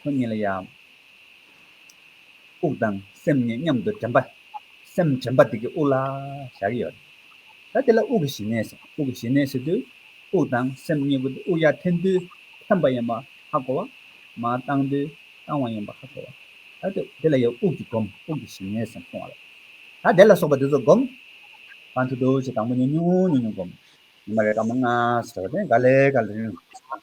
ཁོ་གཉིས་ལ་ཡང་དབུགས་དང་སེམས་གཉིས་མཉམ་དུ་དྲན་པ། སེམས་དྲན་པ་དེ་གིས་དབུགས་ལ་བཞག་གི་ཡོད། ད་དེ་ལ་དབུགས་ཀྱི་ཞི་གནས་ཟེར། དབུགས་ཀྱི་ཞི་གནས་ཟེར་དུས་དབུགས་དང་སེམས་གཉིས་པོ་དེ་དབུགས་ཡར་འཐེན་དུས་འཐེན་པ་ཡིན་པ་ཧ་གོ་བ། མར་བཏང་དུས་བཏང་བ་ཡིན་པ་ཧ་གོ་བ། ད་དེ་དེ་ལ་ཡང་དབུགས་ཀྱི་སྒོམ་དབུགས་ཀྱི་ཞི་གནས་ཟེར་སོང་བ་རེད། ད་དེ་ལ་སོགས་པ་དེ་ཚོ་སྒོམ། གང་འཐུས་འཐུས་བྱས་དང་པོ་ཉུང་ཉུང་ཉུང་ཉུང་སྒོམ། ཉི་མ་རེར་སྐར་མ་ལྔ་ཟེར་བ་དེ་འགའ་ལས་འགའ་ལས་རིང་རིང་ལ་སོང།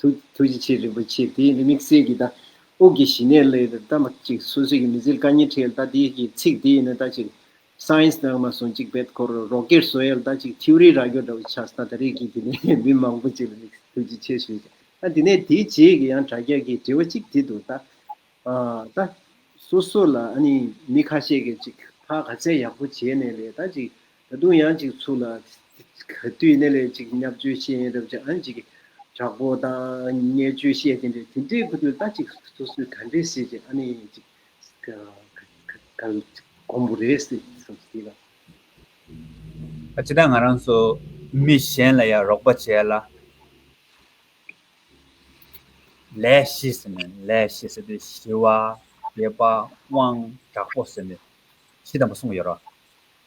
ཐུགས་རྗེ་ཆེ་རིན་པོ་ཆེ་དེ་ནི་དམིགས་བསལ་གྱི་ད་དབུགས་ཀྱི་ཞི་གནས་ལས་ད་མ་གཅིག་སོ་སོའི་གི་མི་ཟིལ་ཀ་གཉིས་ཁྲེལ་ད་དེའི་གི་ཚིག་དེ་ཡིན་ན་ད་ཅིག Science ནང་མ་སོང་གཅིག་བེད་ཁོ་རོ་རོ་ཀེར་སོ་ཡལ་ད་ཅིག Theory ར་ཀྱོ་འདྲ་བོ་ཆགས་སོ་ད་ད་རེས་གི་དེ་ནས་མི་མང་པོ་ཅིག་ལ་དམིགས་བསལ་ཐུགས་རྗེ་ཆེ་ཞུ་ཞེ་ད་དེ་ནས་དེའི་རྗེས་གི་ཡང་དྲ་རྒྱ་གི་དྲི་བ་གཅིག་དྲིས་འདུག་ད་ད་སོ་སོ་ལ་ཨ་ནི་མི་ཁ་ཤས་གི་ཅིག་ཕ་ག་ཚད་ཡག་པོ་བྱས་ནས་ལས་ད་ཅིག་ད་དུང་ཡང་ཅིག་ཚུགས་ལ། དུས་ནས་ལས་ཅིག་ཉག་བཅོལ་བཤད་ཡིན་རབས་ཀྱི་ཨང་ཅིག་དྲག་པོ་དང་བརྙས་བཅོས་བཤད་ཀྱིན་འདུག་དེ་འདྲའི་ཁུ་དུས་ལྟ་ཅིག་སོ་སོའི་ག་འདྲའི་སྲིད་ཀྱི་ཨ་ནེ་ཡིན་ཅིག་གོང་བུ་རེད་ཟེར་བསམ་སྲིད་ལ། ད་ཅི་ད་ང་རང་ཚོ་མི་གཞན་ལ་ཡང་རོགས་པ་བྱས་ལ། ལས་ཤེས་ཟེར་ནས་ལས་ཤེས་ཟེར་དུས་ཞི་བ། དགེ་བ། དབང། དྲག་པོ་ཟེར་ནས་ཤི་དམ་པོ་གསུངས་ཡོད་རོགས།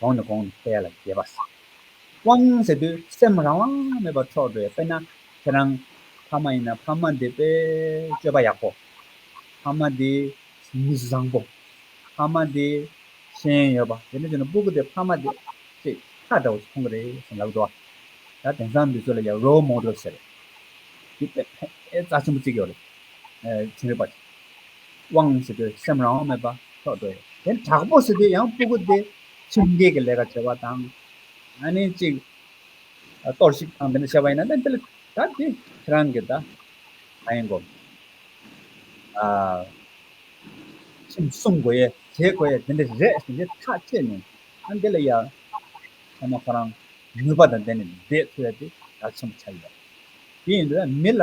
གོང་ནས་གོང་དུ་འཕེལ་ལ་རྒྱས་པར་བསམ། དབང་ཟེར་དུས་སེམས་རང་དབང་མེད་པར་འཕྲོག་པས་དཔེར་ན་ཁྱེད་རང་ཕ་མ་ཡིན་ན་ཕ་མ་འདི་དཔེ་སྤྱོད་པ་ཡག་པོ། ཕ་མ་འདི་མི་གཞི་བཟང་པོ། ཕ་མ་འདི་ཤེས་ཡོན་ཡོད་པ་དེ་འདྲ་བྱུང་ན་སྤུ་གུ་དེ་ཕ་མ་དེ་ཅེས་ཁ་འདྲ་བོ་ཞིག་མཐོང་གི་རེད་བསམ་ལབ་འགྲོ། ད་དེང་སང་འདི་ཚོ་ལ་ཡང Role Model ཟེར་བའི་དཔེ་ཕན་རྩ་ཆེན་པོ་བརྩིགས་ཡོད་རེད། བྱུང་ཡོད་པ་རེད། དབང་ཟེར་དུས་སེམས་རང་དབང་མེད་པ་ཐོག་འགྲོ་ཡོད་དེ། དྲག་པོ་ཟེར་དུས་ཡང་སྤུ་གུ་སྟེ་ཁྲིམས་འགལ་གྱི་ལས་ཀ་བྱེད་པ་དང། ནི་གཅིག། གཏོར་བཤིག་དང་འདི་འདྲ་བྱས་པ་ཡིན་ན་ནི་འདི་ལ་ད་དེ་ཁྱེད་རང་གི་ད་ག་ཡིན་གོ། ཁྲིམས་སྲུང་དགོས་ཡས་བྱེད་དགོས་ཡས་འདི་འདྲ་རེད་ཟེར་ཏེ་ཐག་བཅད་ནས་ཨ་འདི་ལ་ཡ། ཚང་མ་ཁོ་རང་ནུས་པ་དང་ལྡན་ནས་བསྡད་ཚུལ་ཡ་དེ་ག་ཚོད་མ་ཆགས་ཡོད། དེ་ཡིན་དུས་མི་ལ་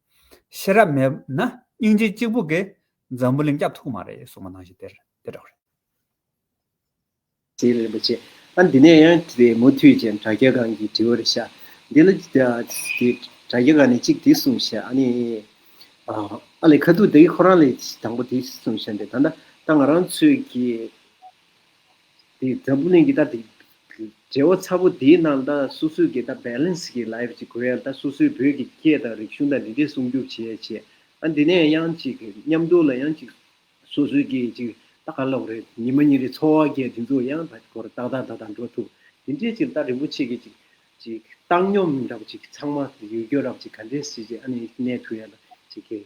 ཤེས་རབ་མེད་ན་སྙིང་རྗེ་གཅིག་པུ་གིས་འཛམ་བུ་གླིང་སྐྱབས་ཐུག་མ་རེད་གསུངས་པ་ནང་བཞིན་དེ་འདྲ་བོ་རེད། ཟེར་རེད་རིན་པོ་ཆེ། ཨ་འདི་ནས་ཡང་དེ་མུ་མཐུད་ཅན་དྲ་རྒྱ་སྒང་གི་དྲི་བ་རེ་བཞག་འདི་ལ། དེ་དྲ་རྒྱ་སྒང་ནས་གཅིག་དེ་གསུངས་བཞག་ཨ་ནི། ཨ་ལས་ཁ་ཐུག་དེ་ཁོ་རང་ལས་དང་པོ་དེ་གསུངས་བཞག་འདི་ད་ལྟ་ང་རང་ཚོས་ཀྱི། དེ་འཛམ་བུ་གླིང་གི་ད་དེ་འབྲེལ་བ་ཚ་པོ་དེའི་ནང་ད་སོ་སོའི་གི་ད balance གི life གཅིག་དགོས་ཡ་ད་སོ་སོའི་བོད་གི་སྐད་དང་རིག་གཞུང་ད་འདི་འདྲས་སྲུང་སྐྱོབ་བྱས་ཡ་བྱས་ཨ་འདི་ནས་ཡང་གཅིག་མཉམ་འགྲོ་ལ་ཡང་གཅིག་སོ་སོའི་གི་གཅིག་ད་ག་ལོག་རེད་ཉི་མ་ཉིན་རེ་འཚོ་བ་གས་འདི་ཚོ་ཡང་བད་གོ་རེ་ཏག་ཏག་ད་ད་འགྲོ་ཐུབ་འདི་འདྲས་གཅིག་ད་རིན་པོ་ཆེ་གི་གཅིག་གཅིག་བཏང་སྙོམས་ར་བ་གཅིག་ཚང་མ་ཡུལ་སྐྱོར་ར་བ་གཅིག་ག་འདྲས་བྱས་རྗེས་ཨ་ནས་གནས་ཐུབ་ཡ་ད་གཅིག་གི།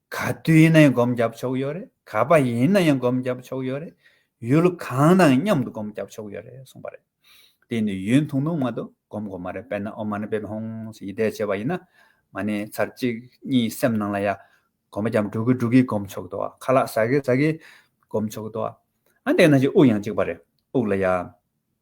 ག་དུས་ཡིན་ན་ཡང་སྒོམ་རྒྱབ་ཆོག་ཡོད་རེད་ག་པ་ཡིན་ན་ཡང་སྒོམ་རྒྱབ་ཆོག་ཡོད་རེད་ཡུལ་གང་ནའང་མཉམ་དུ་སྒོམ་རྒྱབ་ཆོག་ཡོད་རེད་གསུངས་པ་རེད། དེ་ནི་ཡུན་ཐུང་ཐུང་མ་གཏོགས་སྒོམ་དགོས་མ་རེད་དཔེར་ན་ཨོ་མ་ན་པེ་བྷ་ཧོང་སི་ཡིད་བཟླས་བྱས་པ་ཡིན་ན། མ་ནི་ཚར་གཅིག་གཉིས་སེམས་ནང་ལ་ཡག་གོམས་པ་འགྱམ་དྲུག་གི་དྲུག་གིས་སྒོམ་ཆོག་དོ་ཨ་ཁ་ལག་ཟ་གི་ཟ་གིས་སྒོམ་ཆོག་དོ་ཨ། ཨ་འདས་ན་ཅིག་དབུགས་ཡང་གཅིག་པ་རེད་དབུགས་ལ་ཡ།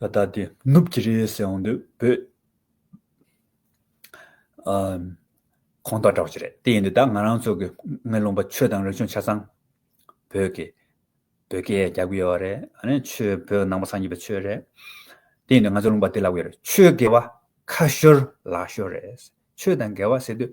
ད་ལྟ་དེ་ནུབ་ཀྱི་རེད་ཟེར་འོང་དུས་བོད་ཁོང་ཐག་གྲགས་ཀྱི་རེད་དེ་ཡིན་དུས་ད་ང་རང་ཚོ་གི་ངའི་རློམ་པ་ཆོས་དང་རིག་གཞུང་ཆ་ཚང་བོད་ཀྱི་བོད་སྐད་རྒྱག་གི་ཡོད་རེད་ཨ་ནི་ཆོས་བོད་ནང་པ་ཚང་གྱི་བའི་ཆོས་རེད་དེ་ཡིན་དུས་ང་ཚོ་རློམ་པ་དེ་ལབ་གི་རེད་ཆོས་དགེ་བ་ཁ་ཤོར་ལག་ཤོར་རེད་ཆོས་དང་འགལ་བ་ཟེར་དུས།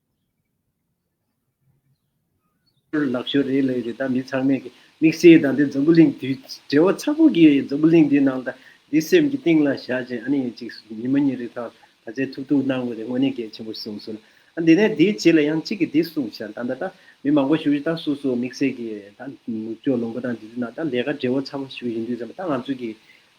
ལག་ཤོ་རེ་ལས་རེ་དང་མི་ཚང་མས་ཀྱི་མིག་སེར་དང་དེ་འཛམ་བུ་གླིང་དུས་བྲེལ་བ་ཚ་པོ་གྱི་འཛམ་བུ་གླིང་འདི་ནང་དང་འདི་སེམས་ཀྱི་གཏིང་ལ་བཞག་ཅིང་ཨ་ནི་ངེད་ཅིག་ཉིན་མོ་གཉིས་རེ་ཐང་ད་ཚའི་ཐུག་ཐུག་གནང་དགོས་རེད་དངོས་གནས་གལ་ཆེན་པོ་གསུངས་སོང་ཨ་འདི་ནས་དེའི་རྗེས་ལ་ཡང་གཅིག་གིས་དེ་གསུངས་ཤག་ད་ལྟ་ད་མི་མང་པོ་བཞུགས་རྗེས་ད་སོ་སོ་མིག་སེར་གྱི་ད་ནུབ་ཕྱོགས་ལུང་པ་དང་འདི་ཚོའི་ནང་ད་ལས་ཀ་བྲེལ་བ་ཚ་པོ་བཞུགས་བཞིན་འདུག་ཟེར་མ་ད་ང་ཚོ་གི་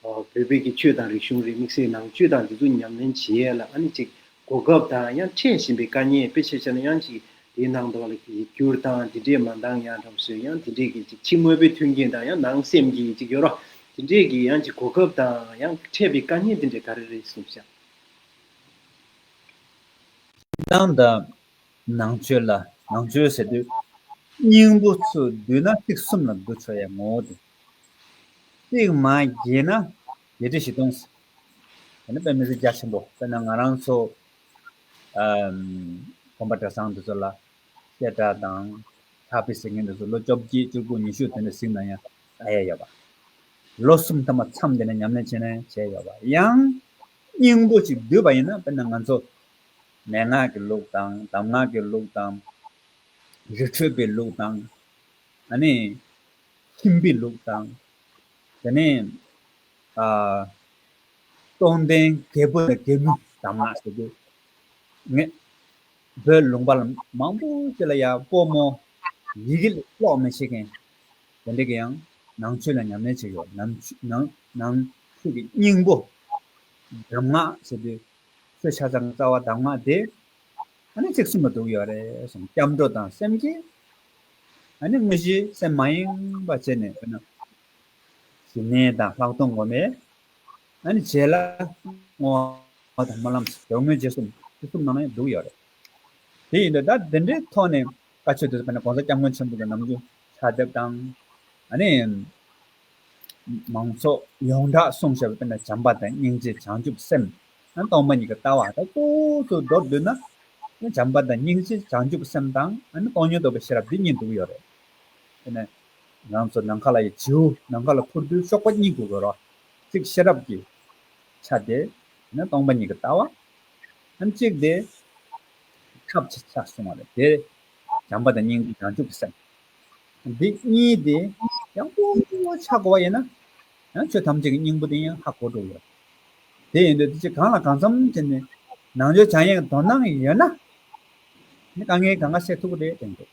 བོད་པའི་གི་ཆོས་དང་རིག་གཞུང་རེད་མིག་སེར་ནང་བཅུད་དང་འདི་ཚོ་ཉམས་ལེན་བྱེད་ཡས་ལ་ཨ་ནི་ཅིག་གོ་སྐབས་དང་ཡང་འཕྲད་བཞིན་པའི་དཀའ་ཉེན་དཔེ་ཆེ་ཆེ་ན་ཡང་གཅིག་དེའི་ནང་དོན་ལ་གཅིག་གྱུར་དང་དེ་འདྲས་མ་འདང་ཡང་གྲོང་སོའི་ཡང་དེ་འདྲས་ཀྱི་གཅིག་ཕྱི་དངོས་པོའི་མཐུན་རྐྱེན་དང་ཡང་ནང་སེམས་ཀྱི་གཅིག་གྱུར་རོ། དེ་འདྲས་ཀྱི་ཡང་གཅིག་གོ་སྐབས་དང་ཡང་འཕྲད་པའི་དཀའ་ཉེན་དེ་འདྲས་ག་རེ་རེད་གསུངས་བྱ། ཞེ་སྡང་དང་ནང་ཆོས་ལ་ནང་ཆོས་ཟེར་དུས་སྙིང་པོ་ཚུར་བསྡུས་ན་ཚིག་གསུམ་ལ་བསྡུ་ཆོག་ཡ་ངོ་བོ་དེ། ཚིག་མ་རྒྱས་ན་བརྒྱད་ཁྲི་བཞི་སྟོང་ཟེར། ད་ནི་དཔེ་མི་གཟིགས་རྒྱ་ཆེན་པོ་དཔེར་ན་ང་རང་ཚོ། གོམ་པ་གྲྭ་ཚང་འདི་ཚོ་ལ། བཤད་གྲྭ་དང། ཕྱག་དཔེ་ཟེར་མཁན་འདི་ཚོ་ལོ་བཅོ་བརྒྱད་བཅུ་དགུ་ཉི་ཤུ་དེ་འདྲ་གཟིགས་ན་ཡང་ད་ཡས་ཡོད་པ། ལོ་གསུམ་ཐ་མ་མཚམས་འདི་ནས་ཉམས་ལེན་བྱས་ན་ཡང་བྱས་ཡོད་པ། ཡང། སྙིང་པོ་ཅིག་བསྡུས་པ་ཡིན་ན་དཔེར་ན་ང་ཚོ། མན་ངག་གི་ལུགས་དང་གདམས་ངག་གི་ལུགས་དང། རི་ཁྲོད་པའི་ལུགས་དང། ཨ་ནི། ཁྱིམ་པའི་ལུགས་དང། དེ་ནས། སྟོང་ལྡན་རྒྱལ་པོ་ལ་རྒྱལ་མོས་གདམས་ངག་ཟེར་དགོས་ངེས། བོད་ལུང་པ་མང་པོ་ཞིག་ལ་ཡང་སྤོ་མོ་ཡི་གེ་ཀློག་མི་ཤེས་མཁན་དེ་འདྲ་གི་ཡང་ནང་ཆོས་ལ་ཉམས་ལེན་བྱས་ཡོད། ནང་ཆོས་ཀྱི་སྙིང་པོ་གདམས་ངག་ཟེར་དུས་ཆོས་ཆ་ཚང་གི་རྩ་བ་གདམས་ངག་དེ་ཨ་ནི་ཚིག་ཟིན་པ་འདུག་ཡོད་རེད་གསུངས་སྐྱབས་འགྲོ་དང་སེམས་བསྐྱེད་ཨ་ནི་དངོས་གཞི་སེམས་མ་ཡེངས་པ་བྱས་ནས་འོ་ན། ཞི་གནས་དང་ལྷག་མཐོང་སྒོམ་པས་ཨ་ནི་བྱས་ལ། བསྔོ་བ་དང་སྨོན་ལམ་དགེ་བསྔོའི་རྗེས་སུ་ཕུན་སུམ་ནང་ནས་འདུག་ཡོད་རེད། དེ་ཡིན་དུས་ད་དེ་འདྲའི་ཐོག་ནས་བཀའ་ཆོས་དེ་ཚོ་ཕན་ན་གོང་ས་སྐྱབས་མགོན་ཆེན་པོ་གི་ནམ་རྒྱུན་ཕྱག་དེབ་དང། ཨ་ནི། མང་ཚོགས་ཡོངས་གྲགས་གསུང་བཤད་པ་ཕན་ན་བྱམས་པ་དང་སྙིང་རྗེ་བྱང་ཆུབ་སེམས་དང་གཏོང་མ་གཉིས་ཀྱི་ལྟ་བ་ད་སྤུ་ཙུར་འདོར་འདོད་ན། བྱམས་པ་དང་སྙིང་རྗེ་བྱང་ཆུབ་སེམས་དང་ཨ་ནི་སྟོང་ཉིད་རྟོགས་པའི་ཤེས་རབ་འདི་གཉིས་འདུག་ཡོད་རེད། དེ་ནས། ལམ་སོགས་ནམ་མཁའ་ལ་ཡི་བྱེད་འོད་ནམ་མཁའ་ལ་འཕུར་དུས་གཤོག་པ་གཉིས་ཀྱིས་འོད་རོ་གཅིག་ཤེས་རབ་ཀྱི་ཆ་དེ་ནི་སྟོང་པ་ཉིད་ཀྱི་ལྟ་བ་ཨེམ་གཅིག་དེ་ཐབས་ཀྱི་ཆ་བཟུང་བ་ལས་དེ་བྱམས་པ་དང་སྙིང་རྗེ་བྱང་ཆུབ་ཀྱི་སེམས་འདི་གཉིས་དེ་ཡང་གོ་བོ་ཆགས་གོ་བ་ཡིན་ན་ཡང་ཆོས་ཐམས་ཅད་ཀྱི་སྙིང་པོ་དེ་ཡང་ཧ་གོ་འགྲོ་གི་རེད། དེ་ཡིན་དུས་དེ་ཅི་གང་ལ་གང་འཚམ་དེ་ནི་ནང་ཆོས་བྱང་ཡིག་དོ་སྣང་ཡོད་ན་དེ་ནི་དཀའ་ངལ་ག་འགའ་སེལ་ཐུབ་ཀྱི་རེད་དྲན་དགོས།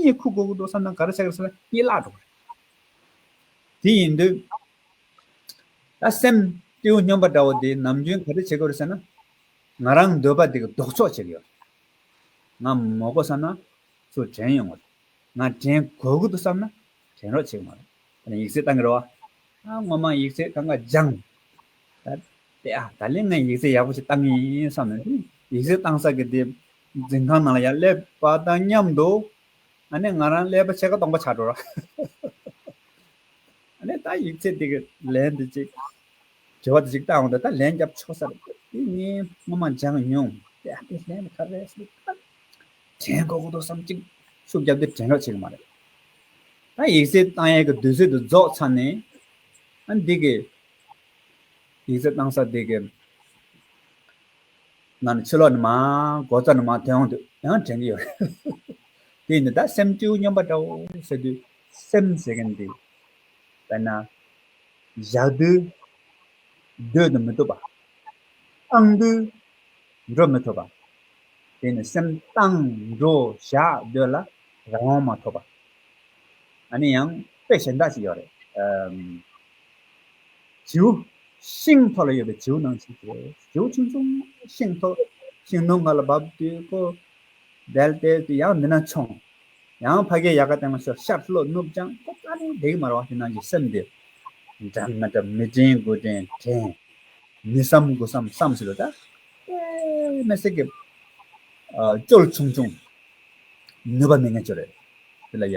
གཉིད་ཁུག་ཁུག་འགྲོ་བསམ་ན་ག་རེ་བྱ་དགོས་སམ་གཉིད་བརླག་འགྲོ་བ་རེད། དེ་ཡིན་དུས། ད་སེམས་གཏེའུ་སྨྱོན་པ་འདྲ་བོ་དེས་ནམ་རྒྱུན་ག་རེ་བྱེད་དགོས་རེད་ཟེར་ན། ང་རང་འདོད་པ་དེ་ལྡོག་ཕྱོགས་བྱེད་ཀྱི་ཡོད། ང་མོ་དགོས་བསམ་ན་ཚུར་དྲན་ཡོང་གི་རེད། ང་དྲན་དགོས་ཀྱི་འདུག་བསམ་ན་དྲན་རོགས་བྱེད་ཀྱི་མ་རེད། ད་ནི་ཡིག་རྩིས་བཏང་གི་རེད། ཨ་སྔོན་མ་ཡིག་རྩིས་གང་ག་སྦྱངས། ད་ལྟའི་ཨ་ད་ལན་ངས་ཡིག་རྩིས་ཡག་པོ་ཞིག་བཏང་གི་ཡིན་བསམ་ནས་ཡིག་རྩིས་བཏང་ས་གི་དེ་འཛིན་ཁང་ནང་ལ་ཡང་སླེབས་པ་དང་མཉམ་དུ་ཨ་ནེ་ང་རང་ཀླད་པ་ཕྱེད་ཀ་སྟོང་པ་ཆགས་འགྲོ། ཨ་ནེ་ད་ཡིག་ཚད་འདི་གི་ལན་འདི་ཅིག་དྲི་བ་འདི་ཅིག་བཏང་འོང་ད་ལན་རྒྱབ་ཆོག་ས་རེད་འདུག་འདི་ངས་སྔོན་མ་སྦྱངས་མྱོང། དེ་ཨ་ཕས་ལན་ག་རེ་ཞུས་ད་དྲན་དགོས་ཀྱི་འདུག་བསམ་གཅིག་ཤུགས་བརྒྱབ་སྟེ་དྲན་རོགས་བྱེད་ཀྱི་མ་རེད། ད་ཡིག་ཚད་བཏང་ཡས་ཀྱི་དུས་ཚོད་དུ་རྫོགས་ཚར་ནས་ཨ་འདི་གི་ཡིག་ཚད་བཏང་ས་འདི་གི། ང་ནི་ཕྱི་ལོག་ནི་མ། སྒོ་རྩར་ནི་མ་དེ་འོང་དུས་ཡང་དྲན་གྱི་ཡོད། དེ་ཡིན་དུས་ད་སེམས་སྤྲེའུ་སྨྱོན་པ་འདྲ་བོ་ཟེར་དུས་སེམས་ཟེར་མཁན་འདི། དཔེར་ན། བཞག་དུས། སྡོད་དུ་མི་བཏུབ་པ། བཏང་དུས། འགྲོ་མི་ཐུབ་པ། དེ་ནི་སེམས་བཏང་འགྲོ་བཞག་སྡོད་ལ་རང་དབང་མ་ཐོབ་པ། ཨ་ནི་ཡང་དཔེ་གཞན་དག་ཅིག་ཡོད་རེད། བྱེའུ། ཤིང་ཐོག་ལ་ཡོད་པའི་བྱེའུ་ནང་བྱེའུ་བྱེའུ་བྱུང་བྱུང། ཤིང་ཐོག་ཤིང་ནོར་ང་ལ་བབས་དུས་ཁོ། དལ་དལ་དུ་ཡང་མི་ནང་མཆོངས། ཡང་ཕ་གའི་ཡལ་ག་སྟེང་ལ་ཤོར་ཤར་ལྷོ་ནུབ་ལྗང་ཁུ་ཀ་ནས་འདེགས་མར་བ་དེ་ནང་གི་སེམས་དེ། འདྲ་མི་འདྲ་མི་དྲན་དགུ་དྲན་དྲན། མི་བསམ་དགུ་བསམ་བསམ་བྱེད་ལོ་ཟླ། པད་མའི་གསེར་གྱི། སྤྱོད་བྱུང་བྱུང། ནུས་པ་མི་ངན་ཅོ་རེ། དེ་ལ་ཡ།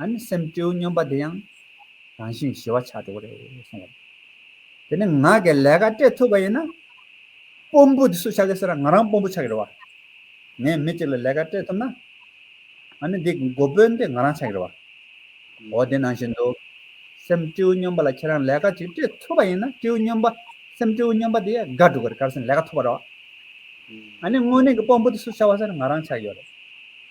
ཨ་ནི་སེམས་སྤྲེའུ་སྨྱོན་པ་དེ་ཡང་རང་བཞིན་ཞི་བ་ཆགས་འགྲོ་གི་རེད་གསུངས་བ། དེ་ནི་ང་གི་ལས་ཀ་སྤྲད་ཐུབ་པ་ཡིན་ན། དཔོན་པོ་དེ་སུ་ཆགས་ཀྱི་ཟེར་ན་ང་རང་དཔོན་པོ་ཆགས་ཀྱི་རེད་བ། ངས་མི་གཅིག་ལ་ལས་ཀ་སྤྲད་ཐུབ་ན། ཨ་ནི་འདི་གི་འགོ་དཔོན་དེ་ང་རང་ཆགས་ཀྱི་རེད་བ། འགོ་དེ་ནང་བཞིན་དུ། སེམས་སྤྲེའུ་སྨྱོན་པ་ལ་ཁྱེད་རང་ལས་ཀ་ཅིག་སྤྲད་ཐུབ་པ་ཡིན་ན་སྤྲེའུ་སྨྱོན་པ་སེམས་སྤྲེའུ་སྨྱོན་པ་དེ་ཡང་དགའ་འགྲོ་གི་རེད་སྐར་སེམས་ལས་ཀ་ཐུབ་པ་རེད་བ། ཨ་ནི་དངོས་གནས་ཀྱི་དཔོན་པོ་དེ་སུ་ཆགས་བ་ཟེར་ན་ང་རང་ཆགས་ཀྱི་ཡོད་རེད།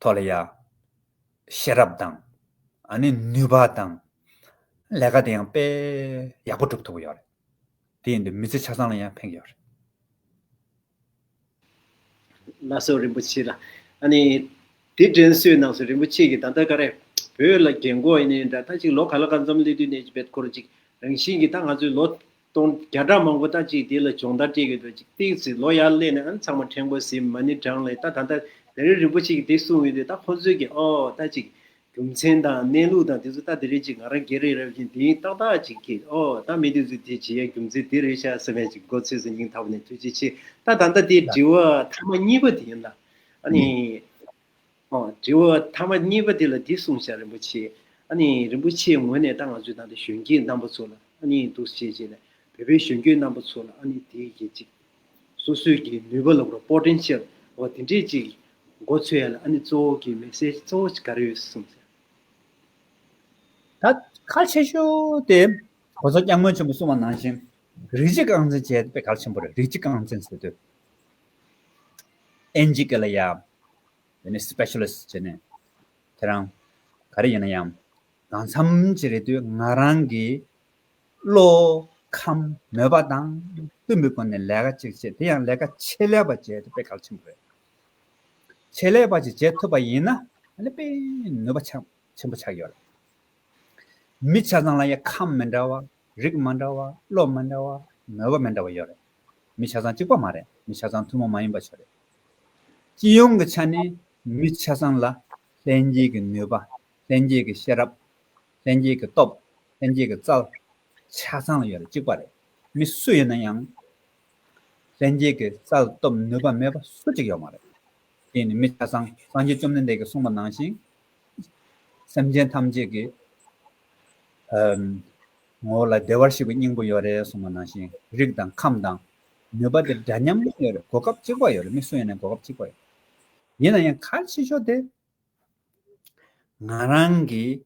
ཐོག་ལ་ཡང། ཤེས་རབ་དང། ཨ་ནི་ནུས་པ་དང། ལས་ཀ་དེ་ཡང་དཔེ་ཡག་པོ་སྒྲུབ་ཐུབ་ཀྱི་ཡོད་རེད། དེ་ཡིན་དུས་མི་ཚེ་ཆ་ཚང་ལ་ཡང་ཕན་གྱི་ཡོད་རེད། བླ་སྲོག་རིན་པོ་ཆེ་ལ། ཨ་ནི། དེ་དྲན་གསོའི་ནང་སོ་རིན་པོ་ཆེ་གིས་ད་ལྟ་ཀ་རེ། བོད་ལ་རྒྱལ་མགོ་ཨེ་ནས་འདྲ་ད་ཅིག་ལོ་ག་ལ་ག་འཛོམས་སླེ་དུས་ནས་ཀྱི་བེད་ཁོར་ཅིག་རང་བཞིན་གྱིས་ད་ང་ཚོའི་ལོ། སྟོང་བརྒྱ་ཕྲག་མང་པོ་དག་ཅིག་དེ་ལ་སྦྱོང་བརྡར་སྤྲད་ཀྱི་འདུག་ཅིག་ཏིག་ཟེར་ལོ་ཡར་སླེབས་ནས་ཨང་ཚང་མ་ཕྲན་གོ་ཟེར་མ་ནི་བགྲང་ལས་ད་ད་ལྟ་དེ་རིང་རིན་པོ་ཆེ་གིས་དེ་གསུངས་ཡོད་དུས་ད་ཁོ་ཚོས་ཀྱིས་ཨོ་ད་ཅིག་རྒྱུ་མཚན་དང་གནས་ལུགས་དང་དེ་ཚོ་ད་དེ་རེད་ཅིག་ང་རང་སྒེར་རེད་རབ་བཞིན་དེ་ཡིན་ཏག་ཏག་ཅིག་གིས་ཨོ་ད་མི་དེ་ཚོས་དེ་བྱེད་ཡ་རྒྱུ་མཚན་དེ་རེད་ཤག་ཟེར་བས་ཅིག་མགོ་ཚོས་སུ་སྙིང་ཐག་པ་ནས་ཐུགས་རྗེ་ཆེ་ད་ད་ལྟ་དེ་དྲི་བ་མཐའ་མ་གཉིས་པ་དེ་ཡིན་ལ་ཨ་ནི། དྲི་བ། ཐ་མ་གཉིས་པ་དེ་ལ་འདི་གསུངས་བྱ་རིན་པོ་ཆེ། ཨ་ནི་རིན་པོ་ཆེའི་ངོས་ནས་ད་ང་ཚོའི་ནང་དུ་གཞོན་སྐྱེས་རྣམ་པ་ཚོ་ལ་ཨ་ནི་འདུག་བྱེད་ཅེས་ལ་བོད་པའི་གཞོན་སྐྱེས་རྣམ་པ་ཚོ་ལ་ཨ་ནི་དེ་གྱིས་ཅིག། སོ་སོའི་གི་ནུས་པ་ལ་གོ Potential འོ་དེ་འདྲས་ཅིག་འགོ་ཚུགས་ཡ་ལ་ཨ་ནི་གཙོ་བོ་གི Message གཙོ་བོ་ག་རེ་ཡོད་གསུངས་བྱ། ད་གལ་ཆེ་ཤོས་དེ་ཁོ་ཚོ་སྐྱག་མོ་ཆེན་པོ་གསུངས་བ་ནང་བཞིན་རིགས་གཅིག་རྐང་འཛིན་བྱས་ཏེ་དཔེ་གལ་ཆེན་པོ་རེད་རིགས་གཅིག་རྐང་འཛིན་ཟེར་དུས་ཨེན་ཇི་ཀེ་ལ་ཡ། དེ་ནས་སི་པེ་ཤེ་ལིས་བྱས་ནས། ཁྱེད་རང། ག་རེ་ཡིན་ན་ཡང། གང་འཚམ་ཞིག་རེད་དུས་ང་རང་གི། བློ། ཁམས། མོས་པ་དང། བསྟུན་པའི་སྒོ་ནས་ལས་ཀ་ཅིག་བྱེད་དེ་ཡང་ལས་ཀ་ཆེད་ལས་པ་བྱས་ཏེ་དཔེ་གལ་ཆེན་པོ་རེད། ཆེད་ལས་པ་ཞིག་བྱེད་ཐུབ་པ་ཡིན་ན། དཔེ། ནུས་པ་ཆེན་པོ་ཆགས་ཡོད། མི་ཆ་ཚང་ལ་ཡ། ཁམས་མི་འདྲ་བ། རིགས་མ་འདྲ་བ་བློ་མི་འདྲ་བ་མོས་པ་མི་འདྲ་བ་ཡོད་རེད། མི་ཆ་ཚང་གཅིག་པ་མ་རེད་མི་ཆ་ཚང་ཐུན་མོང་མ་ཡིན་པ་ཆོས་རེད། སྤྱི་ཡོངས་ཀྱི་ཆ་ནས་མི་ཆ་ཚང་ལ་ལྷན་སྐྱེས་ཀྱི་ནུས་པ་ལྷན་སྐྱེས་ཀྱི་ཤེས་རབ། ལྷན་སྐྱེས་ཀྱི་སྟོབས་ལྷན་སྐྱེས་ཀྱི་རྩལ། ཆ་ཚང་ལ་ཡོད་རེད་གཅིག་པ་རེད། མི་སུ་ཡིན་ན་ཡང་ལྷན་སྐྱེས་ཀྱི་རྩལ་སྟོབས་ནུས་པ་མེད་པ་སུ་གཅིག་ཡོད་མ་རེད། དེ་ནི་མི་ཆ་ཚང་སངས་རྒྱས་བཅོམ་ལྡན་འདས་ཀྱིས་གསུངས་པ་ནང་བཞིན་སེམས་ཅན་ཐམས་ཅད་ཀྱི། ངོ་བོ་ལ་བདེ་བར་གཤེགས་པའི་སྙིང་པོ་ཡོད་རེད་གསུངས་པ་ནང་བཞིན་རིགས་དང་ཁམས་དང། ནུས་པ་དེ་འདྲ་མཉམ་གནས་ཡོད་རེད་གོ་སྐབས་གཅིག་པ་ཡོད་རེད་མི་སུ་ཡིན་ན་གོ་སྐབས་གཅིག་པ་ཡོད། ཡིན་ན་ཡང་ཁ་ཕྱེ་ཞོར་དེ། ང་རང་གིས་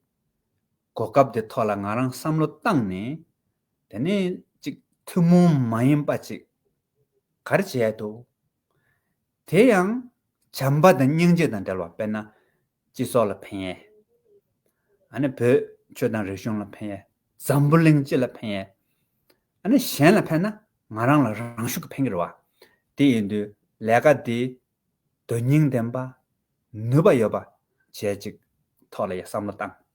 གོ་སྐབས་དེ་ཐོག་ལ་ང་རང་བསམ་བློ་བཏང་ནས། དེ་ནས་ཅིག་ཐུན་མོང་མ་ཡིན་པ་ཅིག་ག་རེ་བྱེད་ཡས་འདུག། དེ་ཡང་བྱམས་པ་དང་སྙིང་རྗེ་དང་འབྲེལ་བ་དཔེར་ན། སྤྱི་ཚོགས་ལ་ཕན་ཡས། ཨ་ནི་བོད་ཆོས་དང་རིག་གཞུང་ལ་ཕན་ཡས། འཛམ་བུ་གླིང་སྤྱི་ལ་ཕན་ཡས། ཨ་ནི་གཞན་ལ་ཕན་ན་ང་རང་ལ་རང་ཤུགས་ཀྱི་ཕན་གྱི་རེད་བ། དེ་ཡིན་དུས་ལས་ཀ་འདི་དོན་སྙིང་ལྡན་པ། ནུས་པ་ཡོད་པ་བྱེད་ཅིག། ཐོག་ལ་ཡ་བསམ་བློ་བཏང།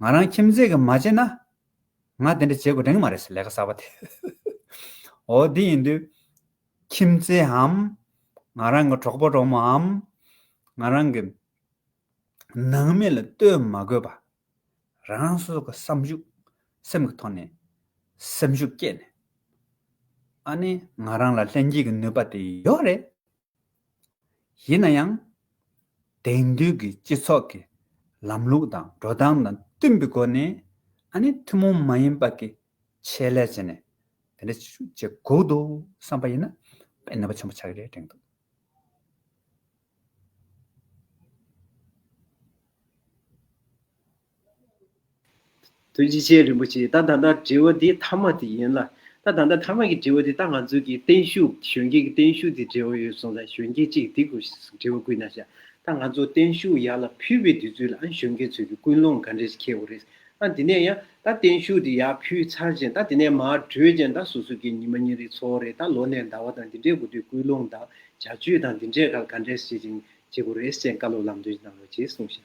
ང་རང་ཁྱིམ་མཚེས་ཀྱིས་མ་བྱེད་ན། ང་དེ་འདྲ་བྱེད་དགོས་དྲན་གི་མ་རེད་ཟེར་ལས་ཀ་གསར་པ་དེ། འོ་དེ་ཡིན་དུས། ཁྱིམ་མཚེའམ། ང་རང་གི་གྲོགས་པོ་གྲོགས་མོའམ། ང་རང་གི། ནང་མི་ལ་ལྟོས་མ་དགོས་པ། རང་སོ་སོ་གི་བསམ་ཤུགས། སེམས་ཀྱི་ཐོག་ནས། སེམས་ཤུགས་བསྐྱེད་ནས། ཨ་ནི་ང་རང་ལ་ལྷན་སྐྱེས་ཀྱི་ནུས་པ་དེ་ཡོད་རེད། ཡིན་ན་ཡང། དེང་དུས་ཀྱི་སྤྱི་ཚོགས་ཀྱི་ལམ་ལུགས་དང་འགྲོ་སྟངས་དང་བསྟུན་པའི་སྒོ་ནས་ཨ་ནེ་ཐུན་མོང་མ་ཡིན་པ་གྱི་ཆེད་ལས་བྱས་ནས་དེ་འདྲ་བྱེད་དགོས་འདུག་བསམ་པ་ཡིན་ན་དཔེ་ནུས་པ་ཆེན་པོ་ཆགས་ཀྱི་རེད་དྲན་འདུག། དོན་གྱིས་ཆེན་རིན་པོ་ཆེ་ད་ད་ལྟ་དྲི་བ་དེ་ཐ་མ་དེ་ཡིན་ལ། ད་ད་ལྟ་ཐ་མ་གི་དྲི་བ་དེ་ད་ང་ཚོ་གི་བརྟན་བཞུགས་གཞོན་སྐྱེས་ཀྱི་བརྟན་བཞུགས་དེ་འབྲེལ་བ་ཡོད་སོང་ད་གཞོན་སྐྱེས་གཅིག་དེ་གུ་དྲི་བ་བསྐུལ་ན་ཤ་ད་ང་ཚོ་བརྟན་བཞུགས་ཡར་ལ་ཕུལ་བའི་དུས་ཚོད་ལ་ཨང་གཞོན་སྐྱེས་ཚོས་ཀྱི་ཀུན་སློང་ག་འདྲས་ཁེལ་བ་རེད་ཨང་དེ་ནས་ཡང་ད་བརྟན་བཞུགས་དེ་ཡར་ཕུལ་ཚར་ཅན་ད་དེ་ནས་མར་བྲོས་ཅན་ད་སོ་སོ་ཀྱི་ཉི་མ་ཉིན་རེའི་འཚོ་བ་རེད་ད་ལོ་ནས་ཟླ་བ་དང་དེ་འདྲས་དགུ་དུས་ཀུན་སློང་དང་བྱ་སྤྱོད་དང་དེ་འདྲས་ག་ལ་ག་འདྲས་བྱེད་ཅིང་བྱེད་དགོས་རེད་སེང་དཀར་ལོ་ལམ་སྟོན་གྱི་གནང་རོགས་གྱིས་གསུངས་ཤ།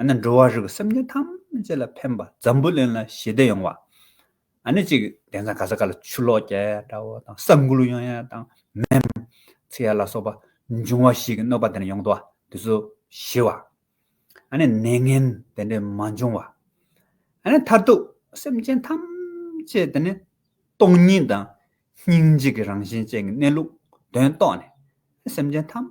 ཨ་ནི་འགྲོ་བ་རིགས་ཀྱི་སེམས་ཅན་ཐམས་ཅད་ལ་ཕན་པ་འཛམ་བུ་གླིང་ལ་ཞི་བདེ་ཡོང་བ། ཨ་ནི་གཅིག་གདན་ཚང་ག་ས་ག་ལ་ཆུ་ལོག་རྒྱ་ཡལ་དགྲ་བོ་དང་ས་འགུལ་ཡང་ཡལ་དང་མེ་ཚི་ཡལ་ལ་སོགས་པ་འབྱུང་བ་ཞིག་གི་གནོད་པ་དེ་ནས་ཡོང་དུ་བ་དེ་ཚོ་ཞི་བ། ཨ་ནི་ནད་ངན་དེ་འདྲས་མ་འབྱུང་བ། ཨ་ནི་མཐར་ཐུག་སེམས་ཅན་ཐམས་ཅད་དེ་ནི་སྟོང་ཉིད་དང་སྙིང་རྗེ་གི་རང་བཞིན་ཅན་གྱི་གནས་ལུགས་དོན་རྟོགས་ནས་སེམས་ཅན་ཐམས་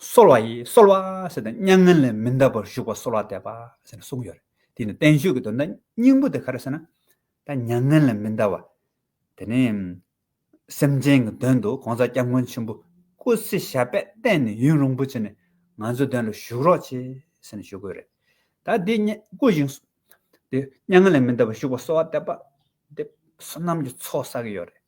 གསོལ་བ་ཡིས་གསོལ་བ་ཟེར་ཏེ་མྱ་ངན་ལས་མི་འདའ་བར་བཞུགས་པར་གསོལ་བ་འདེབས་པ་ཟེར་ནས་གསུངས་ཡོད་རེད། དེ་ནི་བསྟན་བཅོས་ཀྱི་དོན་དང་སྙིང་པོ་དེ་ག་རེ་ཟེར་ན། ད་མྱ་ངན་ལས་མི་འདའ་བ་དེ་ནི། སེམས་ཅན་གྱི་དོན་དུ་གོང་ས་སྐྱབས་མགོན་ཆེན་པོ་སྐུ་ཚེ་ཞབས་པད་བརྟན་ནས་ཡུན་རིང་པོ་བྱས་ནས་ང་ཚོའི་དོན་ལ་བཞུགས་རོགས་བྱས་ཟེར་ནས་ཞུ་དགོས་རེད། ད་དེ་བསྐུར་ཞིང། དེ་མྱ་ངན་ལས་མི་འདའ་བར་བཞུགས་པར་གསོལ་བ་འདེབས་པ། འདི་བསོད་ནམས་ཀྱི་ཚོགས་བསགས་ཀྱི་ཡོད་རེད།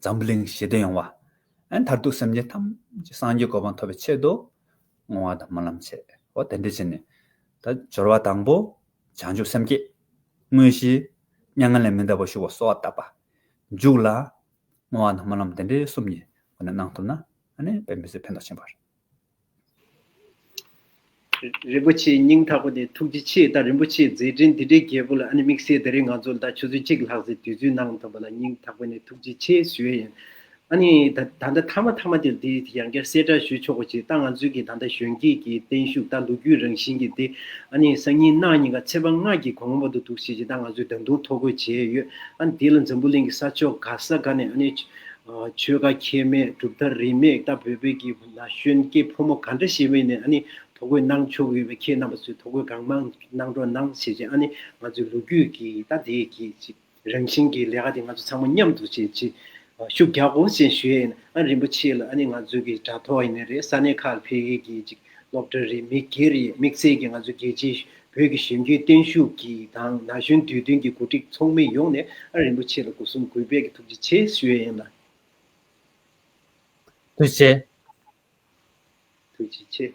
འཛམ་བུ་གླིང་ཞི་བདེ་ཡོང་བ། མཐར་ཐུག་སེམས་ཅན་ཐམས་ཅད་སངས་རྒྱས་གོ་འཕང་ཐོབ་པའི་ཆེད་དུ་བསྔོ་བ་དང་སྨོན་ལམ་བྱེད། འོ་དེ་འདྲ་བྱས་ནས། ད་སྦྱོར་བ་དང་པོ། བྱང་ཆུབ་སེམས་བསྐྱེད། དངོས་གཞི། མྱ་ངན་ལས་མི་འདའ་བར་བཞུགས་པ་གསོལ་བ་བཏབ་པ། འཇུག་ལ། བསྔོ་བ་དང་སྨོན་ལམ་འདི་འདྲའི་གསུམ་གྱིས་འོ་ན་གནང་ཐུབ་ན། ཨ་ནི་དཔལ་མི་བཟད་ཕན་འདོགས་ཆེན་པོར། རིན་པོ་ཆེའི་སྙིང་ཐག་པ་དེ་ཐུགས་རྗེ་ཆེ་ད་རིན་པོ་ཆེའི་མཛད་འཕྲིན་འདི་འདྲའི་རྒྱས་པོ་ལ་ཨ་ནི་དམིགས་བསལ་ད་རིང་ང་ཚོ་ལ་ད་ཆུ་ཚོད་གཅིག་ལྷག་ཟེར་དུས་ཚོད་གནང་ཐུབ་པ་ལ་སྙིང་ཐག་པ་ནས་ཐུགས་རྗེ་ཆེ་ཞུ་ཡ་ཡིན། ཨ་ནི་ད་ད་ལྟ་མཐའ་མ་ཐ་མ་དེར་དེ་ཡང་བསྐྱར་གསལ་བསྒྲགས་ཞུ་ཆོག་པ་བྱས་ད་ང་ཚོའི་གི་ད་ད་གཞོན་སྐྱེས་ཀྱི་བརྟན་བཞུགས་ད་ལོ་རྒྱུས་རང་བཞིན་གྱི་དེ་ཨ་ནི་སང་ཉིན་གནང་གཉིས་ཀ་ཚེ་དཔག་སྔགས་ཀྱི་གོང་མ་དུ་འདུག་བྱས་རྗེས་ད་ང་ཚོས་ད་དུང་ཐོ་འགོད་བྱས་ཡོད་ཨ་ནི་དེ་ལ་འཛམ་བུ་གླིང་གི་ས་ཕྱོགས་ག་ས་ག་ནས་ཨ་ནི། ཆོལ་ཁ་ཁྱད་མེད་གྲུབ་མཐའ་རིས་མེད་ལྟ་བུའི་བོད་ཀྱི་ན་གཞོན་སྐྱེས་ཕོ་མོ་ག་འདྲ་ཞིག་ཡིན་པ་ནས་ཨ་ནི་ཐོ་རྒོད་གནང་ཆོག་གི་ཡོད་པ་ཁྱེད་རྣམ་པ་ཚོས་ཐོ་རྒོད་གང་མང་གནང་གྲོགས་གནང་བྱེད་ཅིག་ཨ་ནི་ང་ཚོའི་ལོ་རྒྱུས་ཀྱི་ལྟ་དེ་གི་ཅིག་རང་བཞིན་གྱི་ལས་ཀ་དེ་ང་ཚོ་ཚང་མ་མཉམ་དུ་བྱེད་ཅིག་ཤུགས་རྒྱག་གོ་ཅན་ཞུ་ཡས་ཨ་རིན་པོ་ཆེ་ལ་ཨ་ནི་ང་ཚོའི་གི་དྲ་ཐོག་ཡིན་ནས་རེད་ས་གནས་ཁག་ལ་ཕེབས་ཡས་གི་ཅིག་སློབ་གྲྭ་རེའི་མི་སྒེར་ཡི་དམིགས་བསལ་གྱིས་ང་ཚོ་རྒྱལ་སྤྱིའི་བོད་ཀྱི་ཞིབ་འཇུག་བརྟན་བཞུགས་ཀྱི་དང་ན་གཞོན་དུས་སྟོན་གྱི་གོ་སྒྲིག་ཚོགས་མི་ཡོངས་ནས་ཨ་རིན་པོ་ཆེ་ལ་གོ་སྲུང་གུས་པས་ཀྱི་ཐུགས་རྗེ་ཆེ་ཞུ་ཡན་ལ། ཐུགས་རྗེ། ཐུགས་རྗེ་ཆེ།